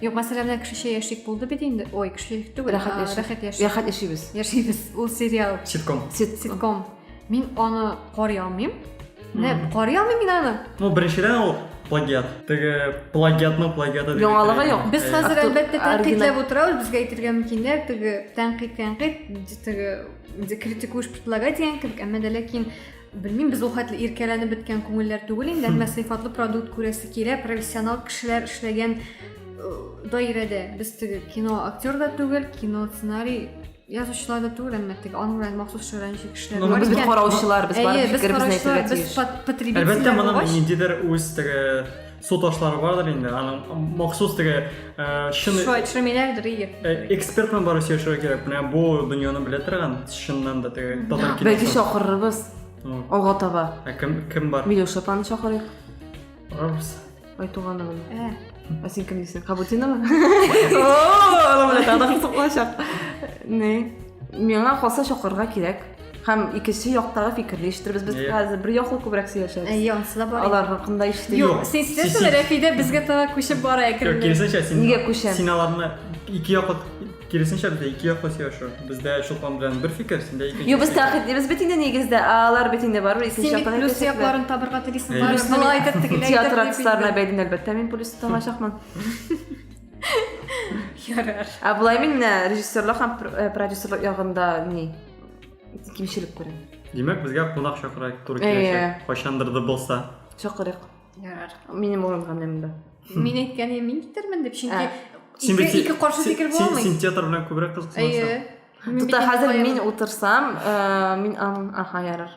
Юк, мәсәлән, менә кешечә яшик булды бит инде. Ой, кеше түгел. Рәхәт яшик. Рәхәт яшик. Рәхәт яшибез. Яшибез. Ул сериал. Ситком. Ситком. Мин аны карый алмыйм. Менә карый алмыйм мин аны. Ну, беренчедән ул плагиат. Теге плагиатның плагиаты. Яңалыгы юк. Без хәзер әлбәттә тәнкыйтьләп утырабыз, безгә әйтергә мөмкиннәр, теге тәнкыйть, тәнкыйть, теге критикуешь предлагать дигән кебек, әмма дә ләкин Белмим, без ул хәтле иркәләнеп беткән күңелләр түгел инде, әмма сыйфатлы продукт күрәсе килә, профессионал кешеләр эшләгән э, даирәдә. Без теге кино актер да түгел, кино сценарий язучылар да түгел, әмма теге аның белән махсус шөгыльләнүче кешеләр Но ну, без караучылар, без бар фикеребезне әйтергә тиеш. Без потребительләр. Әлбәттә, моның ниндидер үз теге Су ташлары бардыр инде, аның махсус теге чын Шулай төшермиләрдер егер. Эксперт белән барып сөйләшергә кирәк. Менә бу дөньяны белә торган, чыннан да теге татар киносы. Бәлки чакырырбыз. Алга таба. Ә кем кем бар? Милюша паны чакырыйк. Барабыз. Айтуганы гына. Ә. Ә син кем дисең? Кабутинова? О, аны белән тагын соклачак. Не? Миңа калса чакырырга кирәк. Һәм икенче яктагы фикерне ишетербез. Без Әйе. хәзер бер яклы күбрәк сөйләшәбез. Әйе, анысы да бар. Алар хакында ишетик. Юк, син сестрәсең, Рәфидә безгә таба күчеп бара Юк, әкренләп. киресенчә, син Нигә күчәм? син аларны ике яклы киресенчә бездә ике яклы сөйләшү. Бездә Чулпан белән бер фикер, синдә икенче. Юк, без фикер. тәхет, без бит инде нигездә, а алар бит инде барыбер икенче Син бит яктан плюс әйтәчәкләр. якларын табырга телисең. Әйе. Барыбер Плюсны былай әйтеп, тегеләй әйтеп. Театр артистларына бәйле, әлбәттә, мин плюс тыңлачакмын. Ярар. Ә болай мин менә режиссерлык һәм пр- э, продюсерлык ягында ни? кимчелек күрәм димәк безгә кунак чакырайк туры киләчәк кайчандыр да булса чакырыйк ярар минем урынга менә монда мин әйткән мин китермен дип чөнки син бит ике каршы фикер була алмый син театр белән күбрәк кызыксынасың әйе хәзер мин утырсам мин аха ярар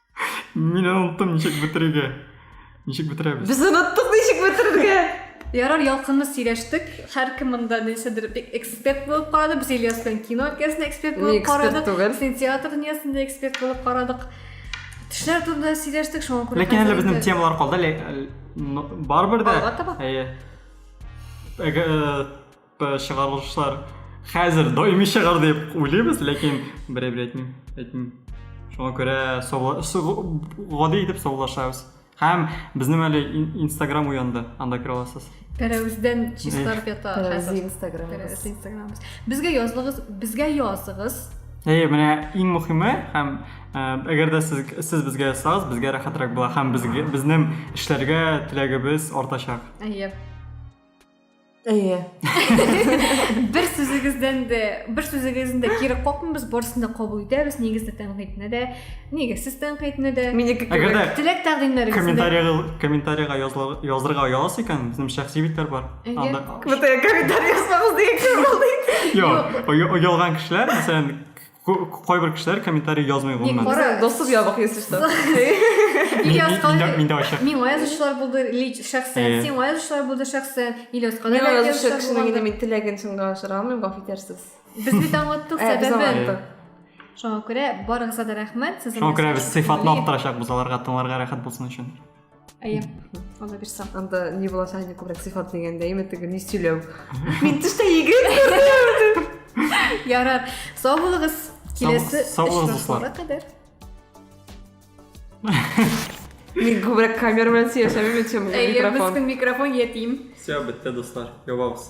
Мин оныттым ничек бетерергә. Ничек бетерәбез? Без оныттык ничек бетерергә. Ярар, ялкынлы сөйләштек. Һәркем монда нәрсәдер эксперт булып карады. Без Ильяс белән кино өлкәсендә эксперт булып карадык. Син театр дөньясында эксперт булып карадык. Төшләр турында сөйләштек, шуңа күрә. Ләкин әле безнең темалар калды. Барыбер дә. Әйе. Э, Э, чыгарылышлар хәзер даими чыгар дип уйлыйбыз, ләкин берәй бер әйтмим, әйтмим. Шуңа күрә гади итеп саулашабыз. Һәм безнең әле Instagram уянды, анда керә аласыз. Тәрәвездән чистарып ята. Тәрәвезе Instagram. Тәрәвезе Instagram. Безгә языгыз, безгә языгыз. Әйе, менә иң мөхиме һәм э, әгәр дә сез сез безгә язсагыз, безгә рәхәтрәк була һәм безгә безнең эшләргә теләгебез артачак. Әйе. Әйе. Бер сүзегездән дә, бер сүзегездән дә кире какмыйбыз, барысын да кабул итәбез. Нигездә тәнкыйтьне дә, нигезсез тәнкыйтьне дә. Минеке Әгәр дә теләк тәкъдимнәрегезне. Комментарийга комментарийга язырга оялас икән, безнең шәхси битләр бар. Анда комментарий язмагыз дигән кем булды? Юк, оялган кешеләр, мәсәлән, Кайбер кешеләр комментарий язмый гомумән. Кара, досып ябык йөз штук. Или аскалар. Мин дә ачык. Миңа язучылар булды лич шәхсән. Сиңа язучылар булды шәхсән. Или аскалар. Миңа язучы кешенең инде мин теләген чынга ашыра алмыйм, гафу итәрсез. Без бит аңлаттык сәбәбен. Шуңа күрә барыгызга да рәхмәт. Шуңа күрә без сыйфатлы арттырачакбыз аларга тыңларга рәхәт булсын өчен. әйе алла бирса анда не буласа әне күбрәк сыйфат дигәндә әйме теге не сөйләү мин төштә егет күрдем ярар сау булыгыз киләсе очрашуга кадәр мин күбрәк камера белән сөйләшәмме чем микрофон без көн микрофон ятим все бетте дуслар ябабыз